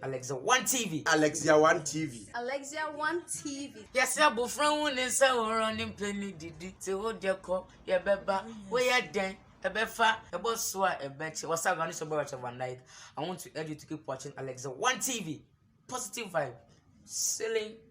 Alexia One TV. Alexia One TV. Alexia One TV. Yɛsɛ abofra hu ne nsa horow ne mpɛ ne didi te wo deɛ kɔ yɛbɛba woyɛ dɛn ɛbɛfa ɛbɔ so a ɛbɛkyɛ wasa agane so bɛwɔ kyɛ van dijk I want to urge you to keep watching Alexia One TV positive vibe selling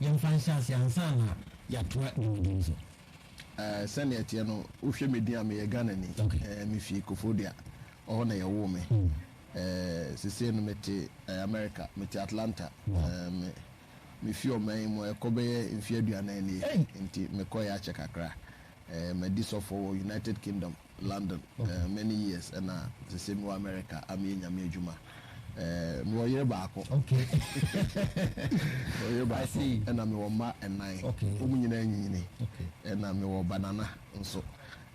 Yɛmfa nhyɛ ase ansa na yɛatoa dwumadie so. Ɛɛ sɛnea ɛteɛ no wo hwɛ me din a me yɛ Ghana ni okay. Ɛɛ me fi Kofodua ɔhɔ na yɛ woo me mm. Ɛɛ sesei no me te ɛɛ America me te Atlanta wow. Ɛɛ me me fi ɔman yi mu ɛkɔ bɛyɛ mfe aduanan nie hey. Nti me kɔ yɛ akyɛ kakra ɛɛ ma di sɔfoɔ wɔ United Kingdom. London eh many years ɛna sese mewɔ America a meyɛ Nyame adwuma eh mewɔ yere baako okay mewɔ yere baako ɛna mewɔ mma nnan okay wɔn nyinaa nyinyini okay ɛna mewɔ banana nso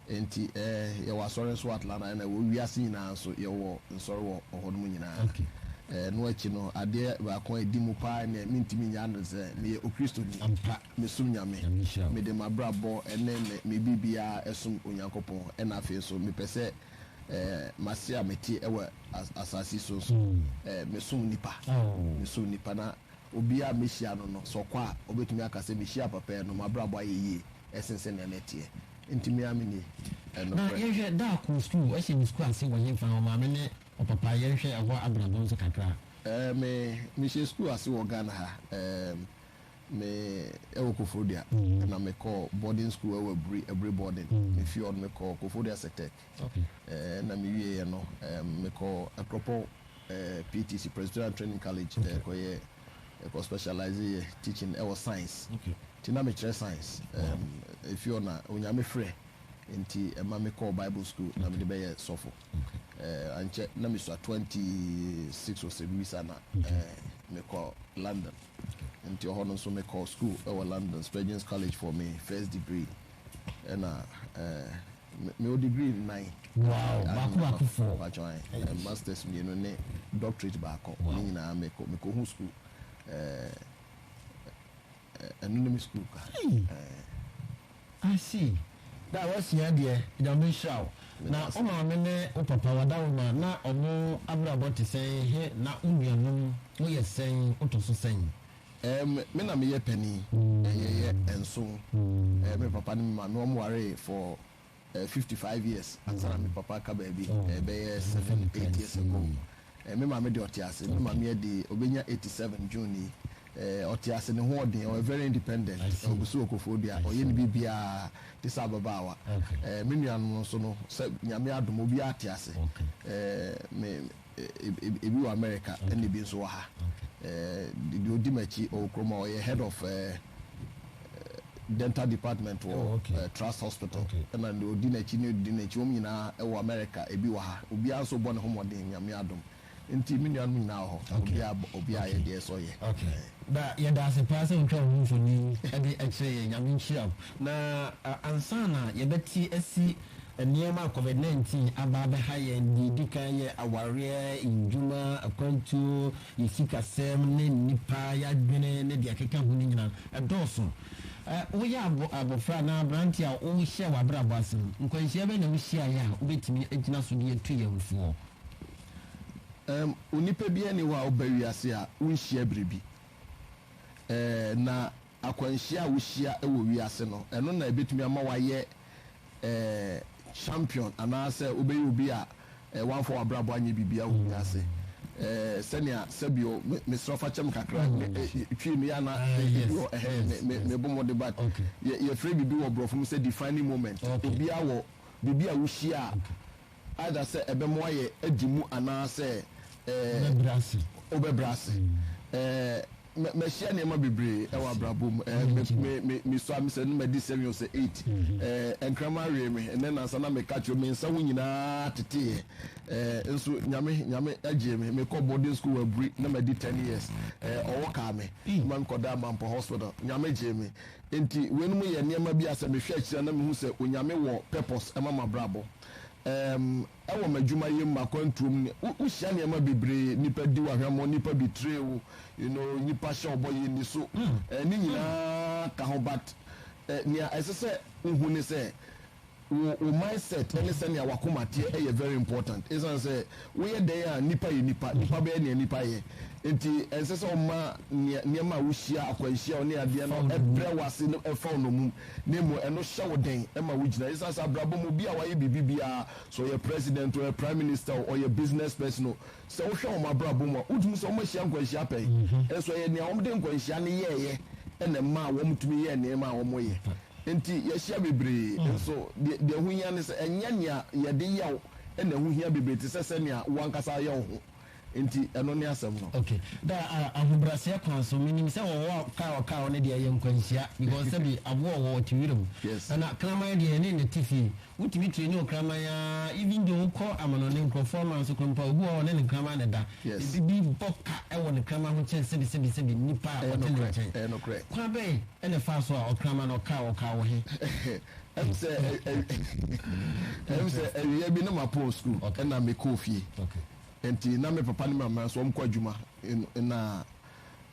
nti eh yɛwɔ asɔre nso wɔ Atlanta ɛna wɔ wiase nyinaa nso yɛwɔ nsɔre wɔ hɔ nom nyinaa okay eh no akyi no adeɛ baako a ɛdi mu paa ne mentumi nya no sɛ meyɛ okristoni ampa mesom Nyame. Nyame nhyira wo. Mede m'abrabɔ ne me me biribiara som Onyankopɔn ɛna afei nso mepɛ sɛ eh m'ase a mete wɔ as asase yi so nso eh mesom nnipa. Aww. Mesom nnipa na obiara a mehyia no no sɛ ɔkɔ a ɔbɛtumi aka sɛ mehyiaa papa yi no m'abrabɔ ayɛ yie ɛsen sɛnea na ɛteɛ. Nti me ara me ni eh Na nokorɛ. yɛnhwɛ Daa kɔɔ sukuu, ɔhyɛ ne sukuu ase wɔ henfa? Ɔmaame ne ɔpapa yɛnhwɛ ɛhɔ abrabɔ nso kakra. Eh me mehyɛ sukuu ase wɔ Ghana ha eh Me wɔ Koforidua na me kɔɔ boarding school ɛwɔ Aburi, Aburi boarding. Me fii hɔ no me kɔɔ Koforidua Sectec ɛna me wie yɛ no me kɔɔ Akropong PTC, Presbyterian Training College, kɔ yɛ kɔ specialise yɛ teaching ɛwɔ science. Nti na me kyerɛ science. Efie hɔ na onya me frɛ nti ɛma me kɔɔ Bible school na me de bɛ yɛ sɔfo. Ankyɛ na me sua twenty six or sɛ biribi saa na me kɔ London. Nti hɔ no nso me kɔɔ school wɔ London, Spurgeon's College for me first degree. Ɛna eh, me wɔ degree nnan. Wow, baako baako fɔ. Baako ayi, eh, masters mmienu ne doctorate baako. Wow. Ne nyinaa me kɔ, me kɔ hu school. Eh, eh, ɛno ne me school ka. Eh. I see, da a wasua deɛ Nyame nhyira wo, na wo maame ne wo papa wada wo ma na ɔmo abrabɔ te sɛn he na wo nuanom mo yɛ sɛn wotɔ so sɛn? Erm me na meyɛ panin, yɛyɛ nson, me papa ne me maame ɔmo waree for fifty five years ansa na me papa aka baabi, ɛbɛyɛ seven eight years ago. Me maame de ɔte ase. Me maame ɛde ɔbɛnya eighty seven June yi. Ɔte ase, ne ho ɔden, ɔyɛ very independent, ɔgu so wɔ Koforidua, ɔyɛ ne biribiara te sɛ ababaawa. Me nuanom nso no, sɛ Nyame adom, obiara te ase. Me, ebi wɔ America ɛna ebi nso wɔ ha. Deɛ ɔdi m'akyi, ɔwɔ kurom hɔ, ɔyɛ head of. Dental department wɔ Trust Hospital ɛna deɛ ɔdi n'akyi ne ɔdi n'akyi wɔn nyinaa ɛwɔ America ebi wɔ ha obiara nso bɔ ne ho mmɔden Nyame adom nti me nuanom nyinaa wɔ hɔ obiara bɔ obiara yɛ deɛ ɛsɛ ɔyɛ. Ok da yɛda ase paa sɛ wotwa wo ho mfonin ɛde ɛkyerɛ yɛn Nyame nhyira wo na ansa na yɛbɛte asi nneɛma a covid 19 aba abɛha yɛn deɛ ɛdi kan yɛ awareɛ, ndwuma, akwantuo, Yɛn sikasɛm ne nnipa, yɛn adwene ne deɛ ɛkeka ho no nyinaa, ɛdɔɔso. Ɛ, woyɛ abo, abofra anaa aberante a worehyɛ w'abrabɔ ase no, nkwanhyia bɛn na wuhyiaeɛ a wobɛtumi agyina so de atu yɛn foɔ? Ɛ, onipa biara nni hɔ a woba wiase a wonhyia biribi. Ɛ, na akwanhyia a wuhyia wɔ wiase no, ɛno na ebetumi ama woayɛ champion anaasɛ wobɛyɛ obi a woamfa w'abrabɔ anyɛ biribiara wɔ wiase. Sɛnea sɛbio mesrɛ fa kyɛ me kakra Twi no yɛ a na ebi wɔ ɛhɛ mebɔ mmɔden but yɛfrɛ biribi wɔ borɔfo mu sɛ defining moment. Obiara wɔ biribi a wohyia a Either sɛ ɛbɛmoa yɛ adi mu anaasɛ wobɛbrɛ ase. Mahyia nneɛma bebree wɔ abrabɔ mu. Mesua me sɛ no madi seven or sɛ eight. Nkraman wee me. Ɛnnɛ nnansa na meka kyerɛ wo, me nsa ho nyinaa teteeɛ. Nso Nyame Nyame gyee me. Mekɔɔ boarding school wɔ Aburi na madi ten years. Ɔwɔ kaa me ma mekɔdaa Mampɔ Hospital. Nyame gyee me. Enti weinom yɛ nneɛma bi a sɛ mehwɛ akyiri a na mehu sɛ Onyame wɔ purpose ma m'abrabɔ. ɛɛm, wɔ m'adwumayɛ mu, m'akwantuo mu, ne, wo, wohyia nneɛma bebree, nnipa di wo ahwammɔ, nnipa betray wo, you know, nnipa hyɛ wo bɔ, yɛ nni so, ɛɛ, ne nyinaa ka ho, but ɛɛ, nea ɛsɛ sɛ wohu ne sɛ, wo, wo mindset ne sɛnea w'akoma teɛ yɛ very important, esiane sɛ, Woyɛ dɛn a nnipa yɛ nnipa, nnipa bɛyɛ nea nnipa yɛ. Enti ɛnsɛ sɛ woma nea nneɛma a wuhyia, akwanhyia a wo ne adeɛ no brɛ wo ase no fa wo nnommum, na mmom ɛno hyɛ wo den ma wugyina. Esiane sɛ abrabɔ mu obi a wayɛ biribi biara, sɛ ɔyɛ president o, ɔyɛ prime minister o, ɔyɛ business person o, sɛ wohwɛ wɔn abrabɔ mu a, wutumi hu sɛ wɔahyia nkwanhyia pɛn. Nanso ɛyɛ nea wɔde nkwanhyia no yɛeɛ na ɛmaa wɔtumi yɛɛ nneɛma a wɔyɛ. Enti yɛahyia bebree, nanso deɛ ɛho hia ne sɛ ɛnyɛ nea yɛde yɛ wo, na ɛho hia bebree te sɛ sɛnea wo ankasa yɛ wo ho. Enti ɛno ne asɛm no. Okay. Da a ahobrɛaseɛ kwan so, menim sɛ wɔwɔ a car wɔ car hɔ no deɛ ɛyɛ nkwanhyia because sɛbi aboa wɔ hɔ ɔte wiram. Yes. Ɛna kraman deɛ yɛne no te fie. Wotumi traini wo kraman ara even though wokɔ amanɔne nkurɔfoɔ ama nso koraa mpo a, obi wɔ hɔ a ɔne ne kraman na ɛda. Yes. Ebi bi bɔ ka wɔ ne kraman ho kyɛn sɛbi sɛbi sɛbi nnipa a Ɛyɛ ɔte ne nokorɛ. nkyɛn. Ɛyɛ nokorɛ. Kwan bɛn na ɛfaa so a ɔkraman no ɔkaa wɔ car wɔ he? Ɛm sɛ ɛm sɛ awia bi na ma pɔn sukuu ɛna me kɔɔ fie nti na me papa ne me mama nso wɔn kɔ adwuma na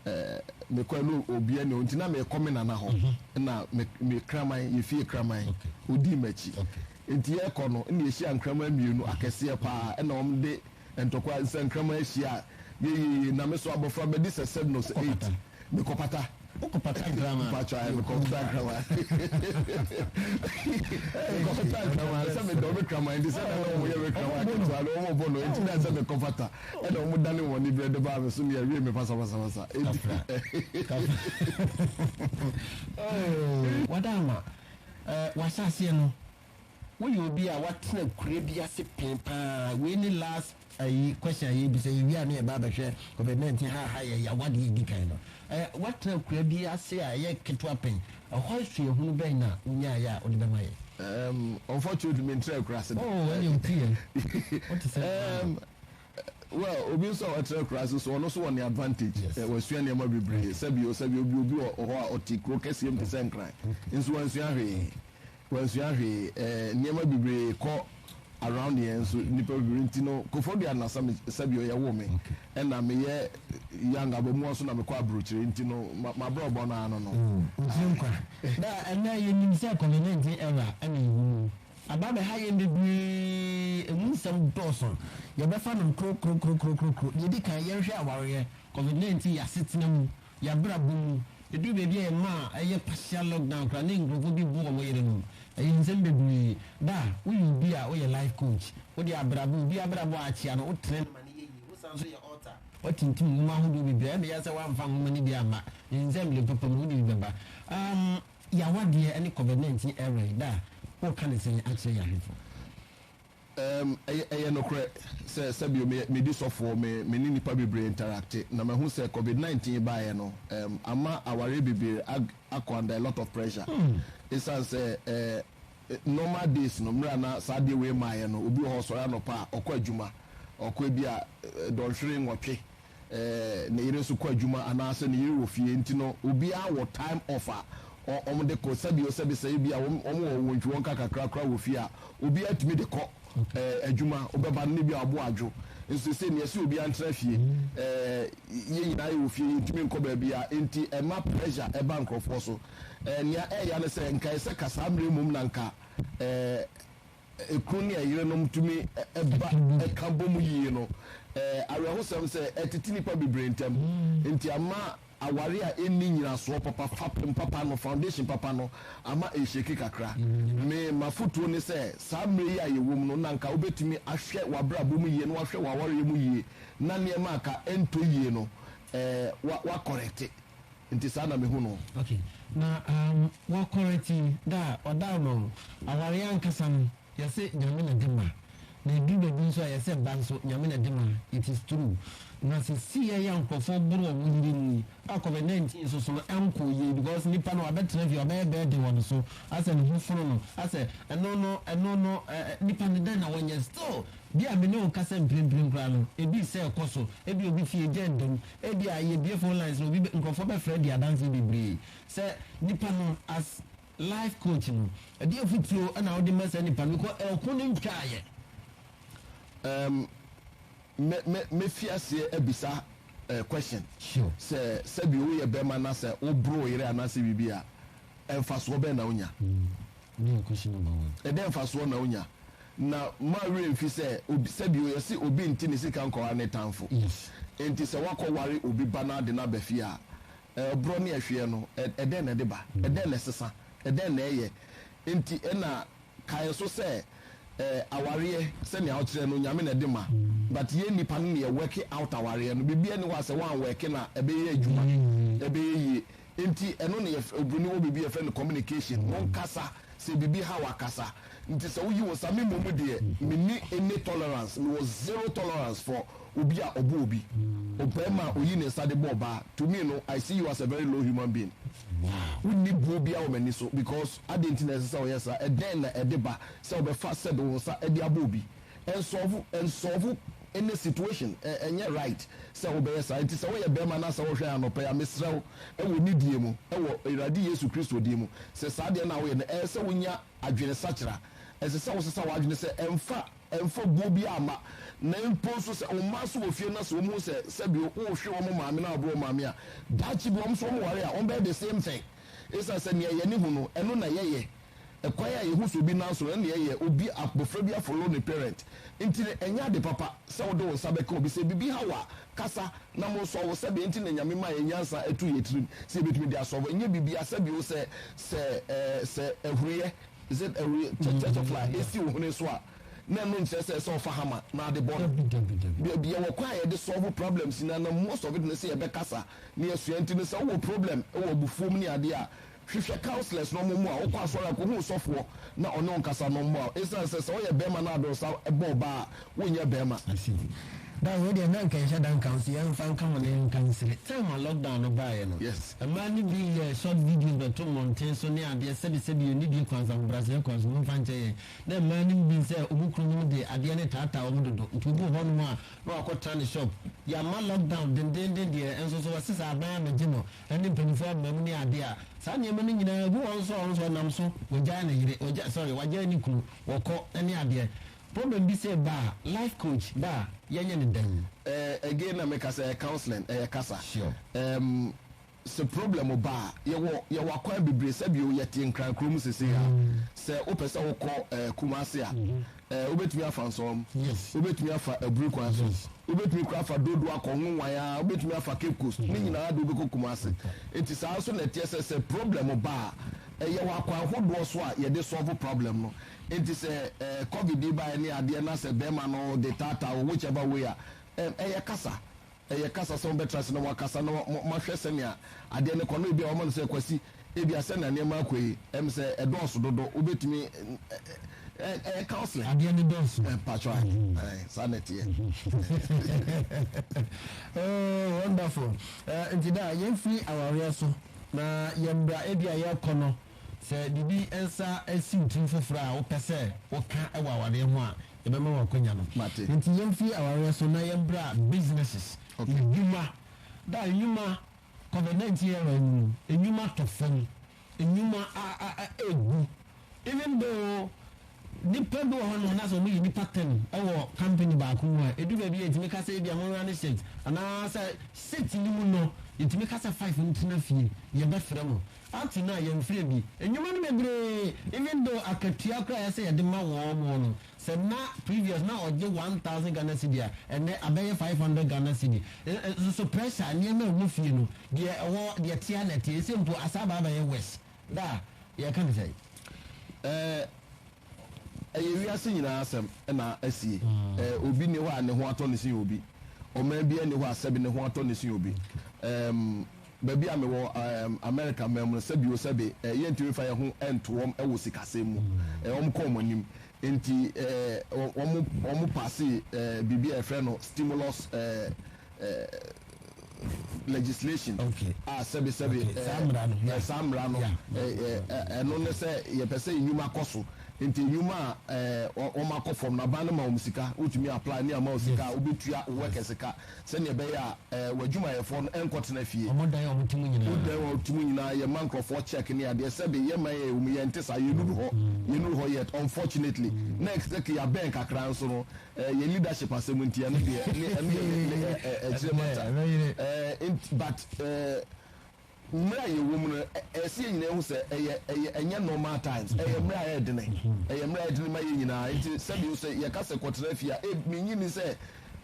ɛɛ me kɔ ɛna obi ɛna nti na me kɔ me nana hɔ ɛna mhm. me me kraman yɛ fie kraman odi m'akyi nti yɛ kɔ no ɛna yɛhyia nkraman mmienu akɛseɛ paa ɛna wɔn de Ntɔkwa nsɛnkraman ahyia a, yeyeye na me so abɔfra bɛdi sɛ sɛd no sɛ eight. Mekɔpata. Wokɔpata nkraman? Mpakyɛ ae, mekɔpata nkraman. Mekɔpata nkraman sɛ medɔ me kraman nti, sɛdeɛ na wɔyɛ me kraman ketewa no, wɔbɔ no nti na sɛ mekɔpata ɛna wɔdane wɔn ani berɛ de baa me so ne awie me pasapasapasa. Enti. Kafra. Oh, wada ama. Eh, w'ahyɛaseɛ no. Woyɛ obi a wate akura bi ase pɛn paa. Wei ne last ayi question a yɛbisa. Yɛwie a ne yɛba abɛhwɛ covid 19 ha ha yɛ yaw adeɛ a ɛdi kan no. Ɛ, woatena akura bi ase a ɛyɛ ketewa pɛn. Ɛhɔ asuahunu bɛn na wonyaeɛ a wode bɛma yɛn? Um, unfortunately mentraa akura ase da. Oh, ɛne wotu yɛn. Wote sɛ nkoraa Um, no. well, obi nso a watra akura ase nso, ɔno nso wɔ ne advantage. Yes. Ɛ, wasua nneɛma bebree. Sɛbi o, sɛbi obi obi wɔ hɔ a ɔte kuro kɛseɛ mu te sɛ Nkran, nso wansua hwee. Wansua hwee eh nneɛma bebree kɔ around yɛn nso nnipa bebree nti no Kofodua na Sabio yɛwoo me ɛna meyɛ young abamua so na mekɔ abrokyire nti no mabrɔbɔ no ara no no. Oh wotiri nkwa na ɛnɛ yɛnim sɛ covid 19 era ɛna yɛwɔ mu aba abɛha yɛn bebree ɛmu nsɛm dɔɔso yɛbɛfa no krokrokrokrokrokro deɛ ɛdi kan yɛnhwɛ awareɛ covid 19 yɛasetena mu Yɛn abrabɔ mu, ɛduru baabi a yɛma a ɛyɛ partial lockdown koraa na nkurɔfoɔ bi bo wɔn yerenom. Ɛyɛ nsɛm bebree. Da, woyɛ obi a woyɛ life coach. Wode abrabɔ, obi abrabɔ a akyea no, wotrɛ no ma no yɛ yie. Wosan nso yɛ author. Woatintim nwoma ahodoɔ bebree. Ɛnde yɛ sɛ woamfa nwoma no bi amma. Ne nsɛmdene papa mu, wode bi bɛba. Um, yɛawadeɛ ne Covid-19 ɛwɛn. Da, woreka no sɛn akyerɛ yɛn ahwɛfoɔ? Erm, ɛyɛ, ɛyɛ nokorɛ sɛ, sɛbio me, medi sɔfoɔ, me, me ne nnipa bebree interacte, na mahu sɛ covid 19 baeɛ no, erm, ama awareɛ bebree ag, akɔ under a lot of pressure, esiane sɛ, eh, normal days no, mmerɛ a na saa adeɛ wei mmaeɛ no, obi wɔ hɔ, ɔsɔre anɔpa a, ɔkɔ adwuma, ɔkɔ ebia, eh, dɔnhwere nwɔtwe, ne yere nso kɔ adwuma anaasɛ ne yere wɔ fie enti no obiara wɔ time off a wɔn de kɔ sɛbi o sɛbi sɛ ebia wɔn wɔn wɔ wɔn ntwiwɔnka kakra koraa wɔ fie a obiara tumi de kɔ ɛɛ adwuma ɔbɛba no ne bi a ɔbo adwo nso sɛ nea ɛsɛ obiara ntena fie ɛɛ yɛn nyinaa yɛ wɔ fie yɛn ntumi nkɔ baabi a enti ɛma pressure ɛba nkorɔfoɔ so ɛɛ nea ɛɛya ne sɛ nka ɛsɛ kasaa mmerɛ mmom na nka ɛɛ kunu ne yerenom tumi ba ka bɔ mu yiye no, ɛyɛ awerɛhosɛm sɛ ɛtete nnipa bebree ntam, enti ama aware a enni nnyinasoɔ papa, fapem papa no, foundation papa no, ama ɛrehyeki kakra. Me m'afotuo ne sɛ, saa mmerɛ yi a yɛwɔ mu no, na anka wobɛtumi ahwɛ w'abrabɔ mu yie na wahwɛ w'awareɛ mu yie na nneɛma a anka ɛntɔ yie no, wa, wa kɔrɛte. Nti saa na mehu no. Ok na um wɔ kɔrɛti da a ɔda ama wo awareɛ ankasa no yɛse nyame na de ma na ɛduru baabi nso a yɛse ba nso nyame na de ma it is true na sesei a yɛ a nkorɔfoɔ boro wɔ wo yere mu yi a covid 19 nso so no ɛnkɔɔ yie because nipa no wabɛtena fie wabɛyɛ birthday wɔ no so asɛ ne ho fono no asɛ ɛno no ɛno no eh, eh, nipa no dɛn na wɔnyɛ still Bi a me ne wo nkasa mprempren koraa no, ebi sɛ ɛkɔ so. Ebia obi fie gya da mu. Ebia yebue phone lines na obi bɛ, nkurɔfoɔ bɛfrɛ adi adanse bebree. Sɛ nipa no, as life coach no, ɛdeɛn afotuo na wode ma saa nipa no because ɛko no ntwaeɛ? Um, mɛ, mɛ, mɛfi aseɛ abisa eh, question. Sure. Sɛ, sɛdeɛ woyɛ bɛrima na sɛ woboro wo yere anaasɛ biribi a, mfasoɔ bɛn na wonya? Mm. ne nko so bɛma wɔn. Ɛdɛn mfasoɔ na onya? Na mma werɛ mfi sɛ obi, sɛdeɛ yɛse obi nte ne sika nkɔware ne tamfo. Yes. Enti sɛ woakɔware obi ba na ade no aba fie a, ɛborɔ ne ɛhweɛ no, ɛ, ɛdɛn na ɛde ba? Ɛdɛn na ɛsesa? Ɛdɛn na ɛyɛ? Enti ɛna kae nso sɛ, ɛ, awareɛ, sɛnea wokyerɛ no, Nyame na ɛde ma. But yɛn nnipa no na yɛ worke out awareɛ no. Biribiara nni hɔ a sɛ woanworke no a, ɛbɛyɛ adwuma, ɛbɛyɛ yie. Nti ɛno na yɛfrɛ, obroni wɔ biribi yɛfrɛ no communication, mo nkasa, sɛ biribi ha wo a kasa. Nti sɛ woyi wo nsa, me mmom deɛ menni any tolerance, mewɔ zero tolerance for obi a ɔbɔ obi, ɔbarima a ɔyi ne nsa de bɔ ɔbaa, to me no I see you as a very low human being. Wonni buo biara wɔ m'ani so because adɛn nti na ɛsɛ sɛ woyɛ saa, ɛdɛn na ɛde ba sɛ wobɛfa sɛ de wo nsa de abɔ obi? Nsɔfo nsɔfo ne situation ɛ ɛnyɛ right sɛ wobɛyɛ saa nti sɛ woyɛ bɛɛma na sɛ wohwɛn anɔpa yi a mesrɛ wo wɔ nidie mu wɔ Awurade Yesu Kristo din mu sɛ saa deɛ no a woyɛ no ɛyɛ sɛ wonya adwene sakyera ɛsɛ sɛ wosesa w'adwene sɛ ɛmfa ɛmfa guo biara mma na mpo nso sɛ womma nso wɔ fie na sɛ wɔn hu sɛ sɛbi wohwe wɔn maame na waboro wɔn maame a daakye bi wɔn nso wɔn ware a wɔn bɛyɛ the same thing ɛsiane sɛ nea yɛne hu no ɛno na yɛyɛ ɛkwan a yɛhu so obi nan so no ɛne deɛ ɛyɛ obi abɔfra bi afollow ne parent nti no ɛnyɛ ade papa sɛ wode wo nsa bɛka obi sɛ biribi ha wo a kasa na mo nsɔ wo sɛdeɛ nti na Nyame maa yɛn nyansa ɛto yɛn tirim sɛ yɛbɛtumi de asɔlve ɛnyɛ biribiara sɛ bio sɛ sɛ ɛɛ sɛ ahuruyɛ is it ahuruyɛ kyɛ kyɛ kyɛ fly ɛsi wo hwene so a na ɛno nkyerɛ sɛ sɛ ɔfa hammer na ade bɔ no Dabi dabi dabi. Baabi yɛwɔ kwan a yɛde sɔlve problems nyinaa na most of it ne sɛ yɛbɛkasa na yɛasua nti no sɛ wowɔ problem wɔ abufuo mu ne adeɛ a Hwehwɛ counselors na wɔn mmoa wo. Kɔ asɔre a, kɔhu ɔsɔfoɔ na ɔne wo nkasa na ɔmmoa wo. Esiane sɛ sɛ woyɛ barima na ade ɔsa bɔ ɔbaa a, wonyɛ barima. I see. Dan wei deɛ na anka ɛnhyɛ da nka wo so, yɛmfa nka wo ne nka nsire. Time a lockdown no baeɛ no, Yes. mmaa no bi yɛɛ short videos bɛto mmɔnten so ne adeɛ, sɛbi sɛbi yɛnni die kwan so, ahobrɛaseɛ kwan so, momfa nkyɛ yɛn. Na mmaa no nim sɛ wɔn kununom de adeɛ no retaataa wɔn dodo, nti obi wɔ hɔnom a na wakɔtena ne shop. Yɛamma lockdown dendeenden deɛ, nso so wɔse sɛ aban ammɛgye no, ɛne mpanyimfo amoam ne ade a saa nneɛma no nyinaa gu wɔn so a wɔn nso wɔnam so wɔgyae ne yere wɔgya sorry wɔagyae ne kunu wɔkɔ ne adeɛ problem bi sɛ ba a life coach ba a yɛnyɛ ne dɛn. Eh, again na meka sɛ ɛyɛ counseling, ɛyɛ kasa. Sure. Um, sɛ problem ba a, yɛwɔ yɛwɔ akwan bebree. Sɛbi o, yɛte Nkran kurom seesei a, sɛ wopɛ sɛ wokɔ eh, Kumasi a, Ɛɛ, wobɛtumi afa nsɔwam. Yes. Wobɛtumi afa aburi kwan so. Yes. Wobɛtumi kura afa Dodo akɔ Nwonwan a, wobɛtumi afa Cape Coast. Mm -hmm. Ne nyinaa de wobɛkɔ Kumasi. Nti saa nso na ɛteɛ sɛ sɛ problem ba a, ɛyɛ wɔ akwan hodoɔ so a yɛde solve problem no. Nti sɛ ɛɛ covid yi baeɛ ne adeɛ na sɛ bɛrima no de taataa wo whichever way a, ɛm, ɛyɛ kasa. Ɛyɛ kasa sɛ wɔbɛtra ase na wɔakasa na wɔahwɛ sɛnea adeɛ no kɔ, na ebia wɔama no sɛ, Kwasi, ebia sɛnea nneɛma rekɔ yi, ɛyɛ me sɛ ɛdɔɔso dodo, wobɛtumi, ɛyɛ counseling. Adeɛ no dɔɔso. Mpakyɛw, aane, aane, saa na ɛteɛ. Oh, wonderful. Nti daa, yɛmfiri awareɛ so, na yɛn bra ebia yɛrekɔ no, Sɛ biribi nsa si wo tirim foforɔ a wopɛ sɛ woka wɔ awareɛ ho a, yɛbɛma wo akwanya no. Enti yɛmfiri awareɛ so na yɛmbra businesses, nnwuma. Da nnwuma, Covid 19 era yi mu no, nnwuma tɔ fam, nnwuma ɛɛgu, even though. Nnipa bi wɔ hɔnom a na sɛ wɔyɛ nnipa tɛm wɔ company baako mu a, edu baabi a yɛtumi ka sɛ ebia monwura ne shift anaa sɛ shift no mu no yɛtumi ka sɛ five ntena fie, yɛbɛfrɛ mo. Up to now yɛmfrɛ bi. Nnwuma no bebree, even though akatua koraa a ɛsɛ sɛ yɛde ma wɔn no, sɛ na previous na ɔgye one thousand Ghana cedi a, ɛnnɛ abɛyɛ five hundred Ghana cedi. Nso so pressure, nneɛma a ɛwɔ fie no, deɛ ɛwɔ, deɛ ɛte ara na ɛte. Ɛsɛ mpo asaa ba abɛyɛ worse. Da a yɛka ne sɛn? Ɛɛ, ɛyɛ wiase nyinaa asɛm na asie. Ɛɛ, obi nni hɔ a ne ho atɔ no sen obi. Ɔman biara nni hɔ a sɛbe ne ho atɔ no sen obi. Ɛɛm, baabi a mewɔ, ɛɛm, Amerika man mu no, sɛbe-o-sɛbe, ɛɛ, yɛntumi mfa yɛn ho nto wɔn wɔ sikasɛm mu. Ɛɛ, wɔkɔ wɔn anim. Enti wɔ wɔn paasee biribi a yɛfrɛ no stimulus legislation a sɛbe sɛbe saa mmara no ɛno ne sɛ yɛpɛ sɛ nnwuma kɔ so nti nnwuma a wɔn akɔ fam no aban no ma wɔn sika wotumi apply ne ama wɔn sika a wobɛtua workers ka sɛnea ɛbɛyɛ a w'adwumayɛfoɔ no nkɔtena fie. Wɔdan a wɔte mu nyinaa. Wodan a wɔte mu nyinaa, yɛma nkurɔfoɔ check ne adeɛ, sɛbe yɛma yɛ wɔ mu, yɛnte saa, yɛnnuru hɔ, yɛnnuru hɔ yet, unfortunately, na exactly yɛabɛn kakra nso no, yɛn leadership asɛm nti, ɛno deɛ, ɛno yɛ, ɛkyerɛ matter, but. Mmerɛ a yɛwɔ mu no, ɛyɛ sɛ yɛn nyinaa hu sɛ ɛyɛ, ɛyɛ, ɛnyɛ normal times. Ɛyɛ mmerɛ a ɛyɛ dene. Ɛyɛ mmerɛ a ɛyɛ dene ma yɛn nyinaa. Nti sɛbi nso, yɛka sɛ kɔtena fie a, eb, mennye nni sɛ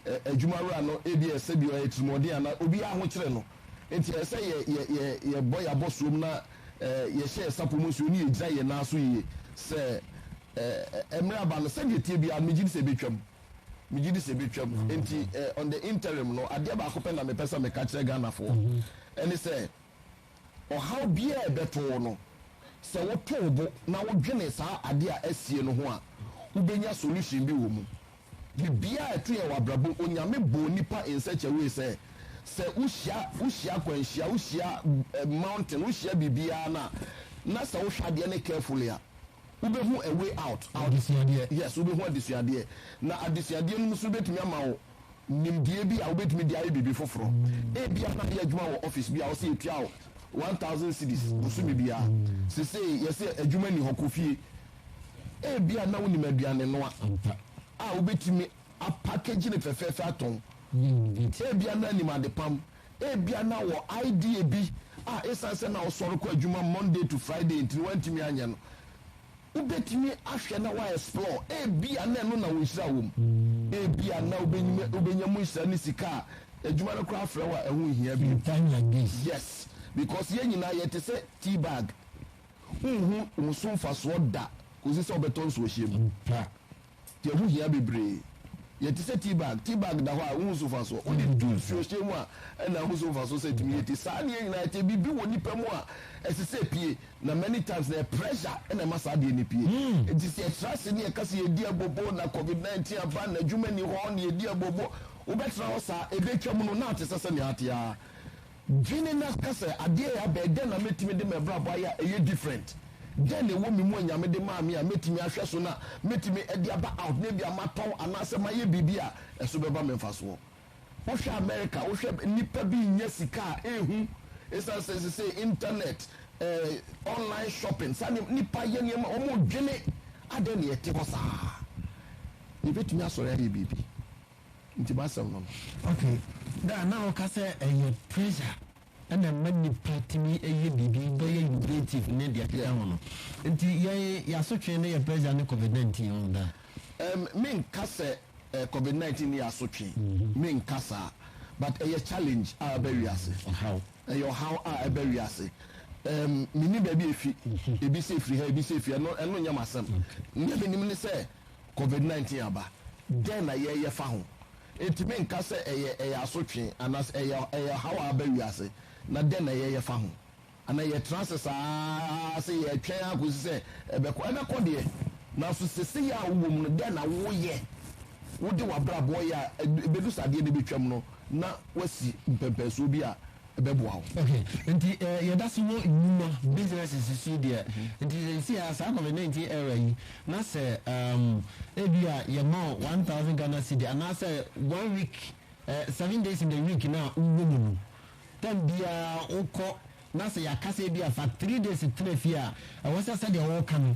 ɛ, adwuma wura no ebi a sɛbi ɔyɛ tirimɔden anaa obiara ho kyerɛ no. Nti ɛyɛ sɛ yɛ, yɛ, yɛ, yɛbɔ yɛn abɔsoam na ɛ, yɛhyɛ yɛn sapɔ mu nsuo ne yɛgyina yɛn nan so yie sɛ ɛ, ɛ, mmerɛ aba no, sɛdeɛ ɛteɛ biara no, megye di sɛ ɛbɛtwam. megye di sɛ ɛbɛtwam. Enti eh, on the interim no, adeɛ baako pɛ na mepɛ sɛ meka kyerɛ Ghanafoɔ, ɛne sɛ ɔhaw biara a ɛbɛto wo no, sɛ woto wo bo na wodwene saa adeɛ a asie no ho a, wobɛnya solution bi wɔ mu. Biribiara a ɛto yɛn wɔ abrabɔ mu, Onyame bɔɔ nnipa in such a way sɛ, sɛ wohyia, wohyia akwanhyia, wohyia eh, mountain, wohyia biribiara no a, na sɛ wohwɛ adeɛ no carefully a, Wobɛhu a way out, adesuadeɛ. Yes, wobɛhu adesuadeɛ. Na adesuadeɛ no mu nso no bɛtumi ama wo nimdeɛ bi a wobɛtumi de ayɛ biribi foforɔ. Ebia na woyɛ adwuma wɔ office bi a wɔse yɛtua wo one thousand cedis bosome biara. Sesei yɛse adwuma nni hɔ, kɔ fie. Ebia na wonim aduanenoa a wobɛtumi apackage no fɛfɛɛfɛ atɔn. Ebia na nim adepam. Ebia na ɔwɔ idea bi a esiane sɛ na ɔsɔre kɔ adwuma Monday to Friday nti no, wantumi anyɛ no. Wubetumi ahwɛ na woaexplore. Ebia na ɛno na wo nhyira wom. Ebia na wubenya mu nhyira ne sika a adwuma no koraa frɛ wo a ɛho nhia bio. Yes, because yɛn nyinaa yɛte sɛ tea bag, wunhu wo so mfasoɔ da kosi sɛ wobɛtɔ nsuohyeɛ mu. Yɛn ho hia bebree. Yɛte sɛ tea bag. Tea bag da hɔ a, wunhu so mfaso. Wode gu nsuohyɛ mu a, ɛnna ahu so mfaso sɛ atumi yɛ tea. Saa na yɛn nyinaa yɛte. Biribi wɔ nnipa mu a, ɛsɛ sɛ epue, na many times no, ɛyɛ pressure na ɛma saa adeɛ no pue. Enti sɛ yɛtra ase na yɛka sɛ yɛredi abobo, na Covid 19 aba, na adwuma nni hɔ, na yɛredi abobo, wobɛtra hɔ saa? Ɛbɛtwam no, na ate sɛ sɛnea ate ara. Dwene na ka sɛ, Adeɛ yɛ abɛn, dɛn na mɛtumi de m'abrabɔ ayɛ a ɛyɛ different? Dɛn na ɛwɔ me mu a Nyame de maa me a mɛtumi ahwɛ so na mɛtumi de aba out na ebia matɔn anaasɛ mayɛ biribi a ɛso bɛba me mfasoɔ? Wohwɛ America, wohwɛ nnipa bi nnya sika a ɛhu ɛsiane sɛ sesei internet, eh, online shopping, saa nneɛma, nnipa yɛ nneɛma, wɔdwene, adɛn na yɛte hɔ saa? Yɛbɛtumi asɔre ayɛ biribi. Nti m'asɛm no no. Okay na na ɔka sɛ ɛyɛ pressure ɛna ɛma nipa tumi ɛyɛ biribi bɛyɛ innovative ne deɛ ɛkeka ho no nti yɛn yasotwe ne yɛ pressure ne covid nineteen ɔn da. Ɛm me nka sɛ ɛ covid nineteen ne yɛ asotwe me nka saa but ɛyɛ challenge a ɛbɛ wiase ɔhaw ɛyɛ ɔhaw a ɛbɛ wiase ɛm me nim baabi efi ebi sɛ efiri ha ebi sɛ efiri ha ɛno ɛno nyɛ m'asɛm nea me nim ne sɛ Covid nineteen aba, dɛn na yɛyɛ fa ho? Etumi nka sɛ ɛyɛ ɛyɛ asotwe anaasɛ ɛyɛ ɛyɛ ɔhaw a aba wiase, na dɛn na yɛyɛ fa ho? Anaa yɛtra ase saa ara sɛ yɛretwɛn ara kɔsi sɛ ɛbɛkɔ? Ɛbɛkɔ deɛ, nanso seesei a wowɔ mu no, dɛn na woyɛ? Wode w'abrabɔ yɛ a, ɛbɛdu sɛ adeɛ no bɛtwam no na woasi mpɛmpɛnsoɔ bi a bɛboa wo. Ok nti eh yɛda so wɔ nnwuma businesses so deɛ nti seesei a saa covid 19 era yi na sɛ um, ebi a yɛma wo 1000 Ghana cedi anaasɛ one week eh, seven days in the week no a wowɔ mu no tam biara wokɔ na sɛ yɛaka sɛ ebi a fa three days tena fie a ɛwɔ sɛ sɛdeɛ woka no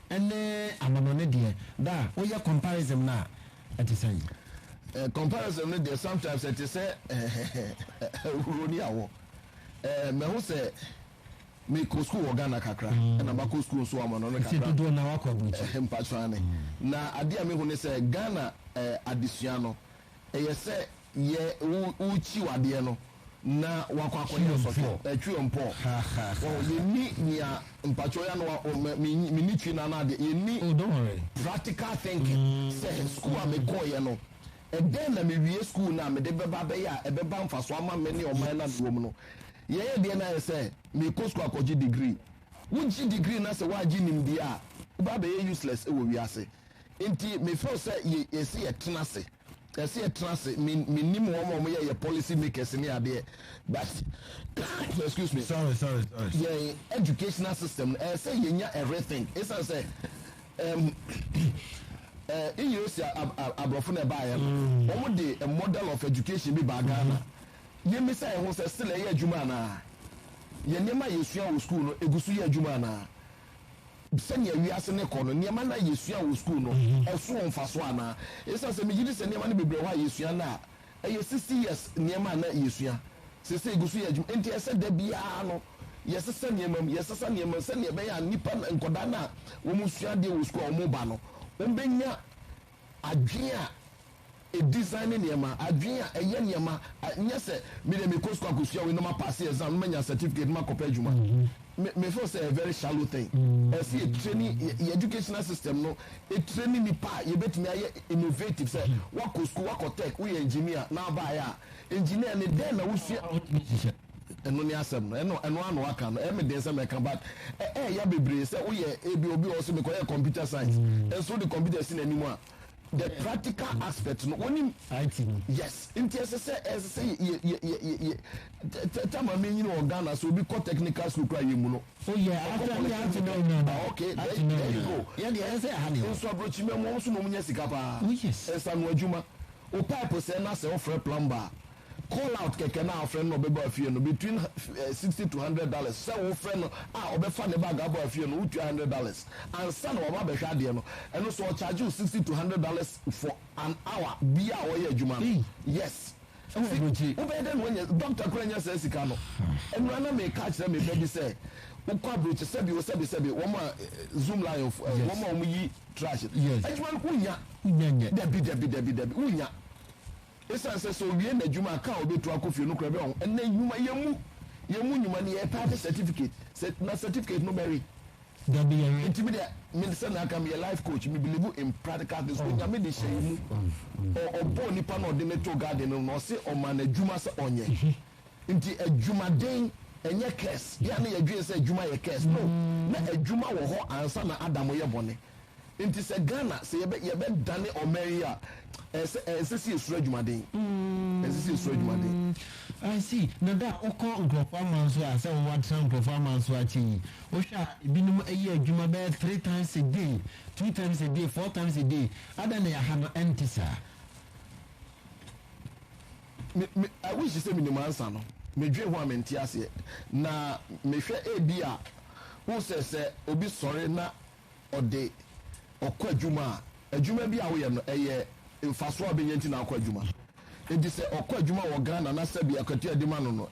Ɛne anamɔne deɛ da a woyɛ comparism no a ɛte sɛn? Eh, comparism no deɛ sometimes ɛte sɛ ahuro ne awɔ. Eh, mɛho sɛ mekɔ sukuu wɔ Ghana kakra, mm. ɛna makɔ sukuu nso amɔno no kakra. dodoɔ na wakɔ aburukyi. Eh, mpatsɔ ane. Mm. Na adeɛ a mehu ne sɛ Ghana eh, adesua no, Ɛyɛ sɛ yɛ wo wo kyiw adeɛ no na wakɔ akɔyɛ nsɔhwɛ ɛ twi ɔn pɔɔ wahu yɛ nni nea mpakyɛw yɛ ano a me me me nni twi no ano adeɛ yɛ nni practical thinking sɛ sukuu a me kɔɔyɛ no ɛdɛn na me wie sukuu no a me de bɛba abɛyɛ a ɛbɛba mfasoɔ ama me ne ɔman no a me wɔ mu no yɛ yɛ deɛ no ayɛ sɛ me kɔ sukuu akɔgye degree wo gye degree na sɛ woagye nimdeɛ a wo bɛ abɛyɛ useless wɔ wiase Nti me feel sɛ yɛ yɛsɛ yɛ tena ase yɛsɛ yɛ tena ase me me nim wɔn a wɔn yɛ yɛ policy makers ne adeɛ but excuse me sorry sorry sorry yɛn educational system no ɛsɛ yɛ nya a rethink esan sɛ ɛm ɛɛ engineers aborɔfo na ɛbaa yɛ no mm. wɔn de a model of education bi baa Ghana mm-hmm. yɛn bisa yɛn ho sɛ sila yɛ adwuma anaa yɛn nneɛma yɛ sua wɔ school no egu so yɛ adwuma anaa. Sɛnea wiase no rekɔ no, nneɛma no a yesuaa wɔ sukuu no, ɛso wɔ mfaso anaa? Esiane sɛ migye di sɛ nneɛma no bebree wɔ hɔ a yesua nnɛ a ɛyɛ sixty years nneɛma a na yesua seesei gu so yɛ adwuma. Enti ɛsɛ sɛ da biara no yɛsesa nneɛma mu, yɛsesa nneɛma mu sɛnea ɛbɛyɛ a nnipa, nkwadaa no a wɔresua adeɛ wɔ sukuu a wɔreba no, wɔbɛnya Adwene a edesigne nneɛma, adwene a ɛyɛ nneɛma, nyɛ sɛ me deɛ mekɔ sukuu akɔsua wei na mapaase exam na manya certificate na makɔpɛ adwuma. Me me feel sɛ a very shallow thing. Ɛsɛ sɛ yɛ training yɛ educational system no training nnipa a yɛbɛtumi ayɛ innovative sɛ woakɔ sukuu, woakɔ tech, woyɛ engineer na wobaeɛ a engineer no dɛn na wosua? Ɛno ne asɛm no. Ɛno ɛno ara na waka no. Ɛyɛ me den sɛ mɛka but ɛ ɛɛya bebree sɛ woyɛ ebi obi wɔ hɔ sɛ mekɔyɛ computer science mm. nso wode computer si n'anim a the practical aspect no wonim IT no yes nti ɛsɛ sɛ ɛsɛ sɛ yɛ yɛ yɛ yɛ tɛ tɛ maame nyini wɔ Ghana sɛ obi kɔ technical school kura yɛ mu no. o oh, yɛ afɛ mi ati mi ɔnyina na okay there you go yɛ deɛ ɛsɛ ɛha ni hɔ nso aburokyi mɛ mu ɔmo so na ɔmo nya sika paa oh, nsanu adwuma o pipe sɛ na sɛ ɔfrɛ plumber. call out kɛkɛ na afrɛ no na ɔbɛba afie no between sixty to hundred dollars sɛ wofrɛ no a ɔbɛfa ne bag abɔ afie no wotua hundred dollars ansa na waba abɛhwɛ adeɛ no ɛno so ɔcharge wo sixty to hundred dollars for an hour bia a wɔyɛ adwuma no yes wobɛyɛ dɛ na wanya dɔkta kora nya saa sika no ɛnura hmm. na meka akyerɛ me ba bi sɛ wokɔ aburokyi sɛbi o sɛbi sɛbi wɔn a eh, zoom line of eh, wɔn a wɔn yi trash adwuma no wonya dabi dabi dabi dabi wonya. Esiane sɛ sɛ owie n'adwuma a ka a obetu akɔ fie no kura bɛ ɔho, ɛnnɛ nnwumayɛ mu yɛn mu nnwuma no yɛtaa pɛ certificate, sɛ na certificate no bɛwe. Dabi yɛnwe. Nti me deɛ, me sɛ na aka meyɛ life coach, me believe in practical things, Onyame de hyɛ yɛn mu, ɔ, ɔbɔɔ nipa na ɔde no too garden no mu na ɔse ɔmaa no adwuma sɛ ɔnyɛ. Nti adwumaden ɛnyɛ curse, yɛ a na yɛdwen sɛ adwuma yɛ curse, no, na adwuma wɔ hɔ ansa na Adam yɛ bɔne. Nti sɛ Ghana sɛ yɛbɛ yɛbɛ dane ɔman yi a ɛsɛ ɛnsɛ sɛ yɛsuro adwumaden. Ɛnsɛ sɛ yɛsuro adwumaden. Mm, I see. Na da a wokɔ nkurɔfoɔ aman so a, sɛ wowɔ atena nkurɔfoɔ aman so akyɛ yi, wohwɛ a ebinom ɛyɛ adwuma bɛyɛ three times a day, two times a day, four times a day. Adɛn na ɛha no ɛnte saa? Me, me, I wish sɛ menim ansa no. Medwen ho a mente aseɛ. Na mehwɛ ebi a, wohu sɛ sɛ obi sɔre na ɔde ɔkɔ adwuma a, adwuma bi a woyɛ no, ɛyɛ mfaso a ɔbɛnya nti na akɔ adwuma. Enti sɛ ɔkɔ adwuma wɔ Ghana na sɛbi akatua a yɛde ma no no,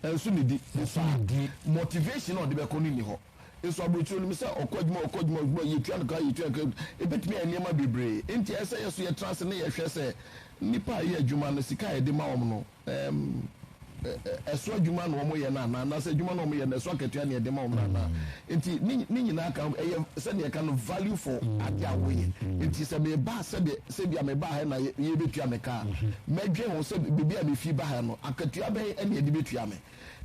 ɛnso eh, ne di. Ɛnso ne di. Motivation a ɔde bɛkɔ no nni hɔ. Nso aburokyire onim sɛ ɔkɔ adwuma, ɔkɔ adwuma, adwuma, yɛtua no ka, yɛtua no ka, ebetumi ayɛ nneɛma bebree. Enti ɛsɛ yɛ so yɛtra ase na yɛhwɛ sɛ nnipa a ɛyɛ adwuma no, sika a yɛde ma wɔn no, ɛɛm, ɛso adwuma na wɔyɛ no anaa anaasɛ adwuma na wɔyɛ no ɛso akatua na yɛde ma wɔn no anaa mm. nti ne ne nyinaa ka ɛyɛ sɛdeɛ ɛka no value for mm. ade a wɔyɛ mm. nti sɛ meba sɛdeɛ sɛbi a meba ha na yɛbɛtua me kaa mɛdwen ho sɛ biribi a mefi ba ha no akatua bɛn ɛne ɛde bɛtua me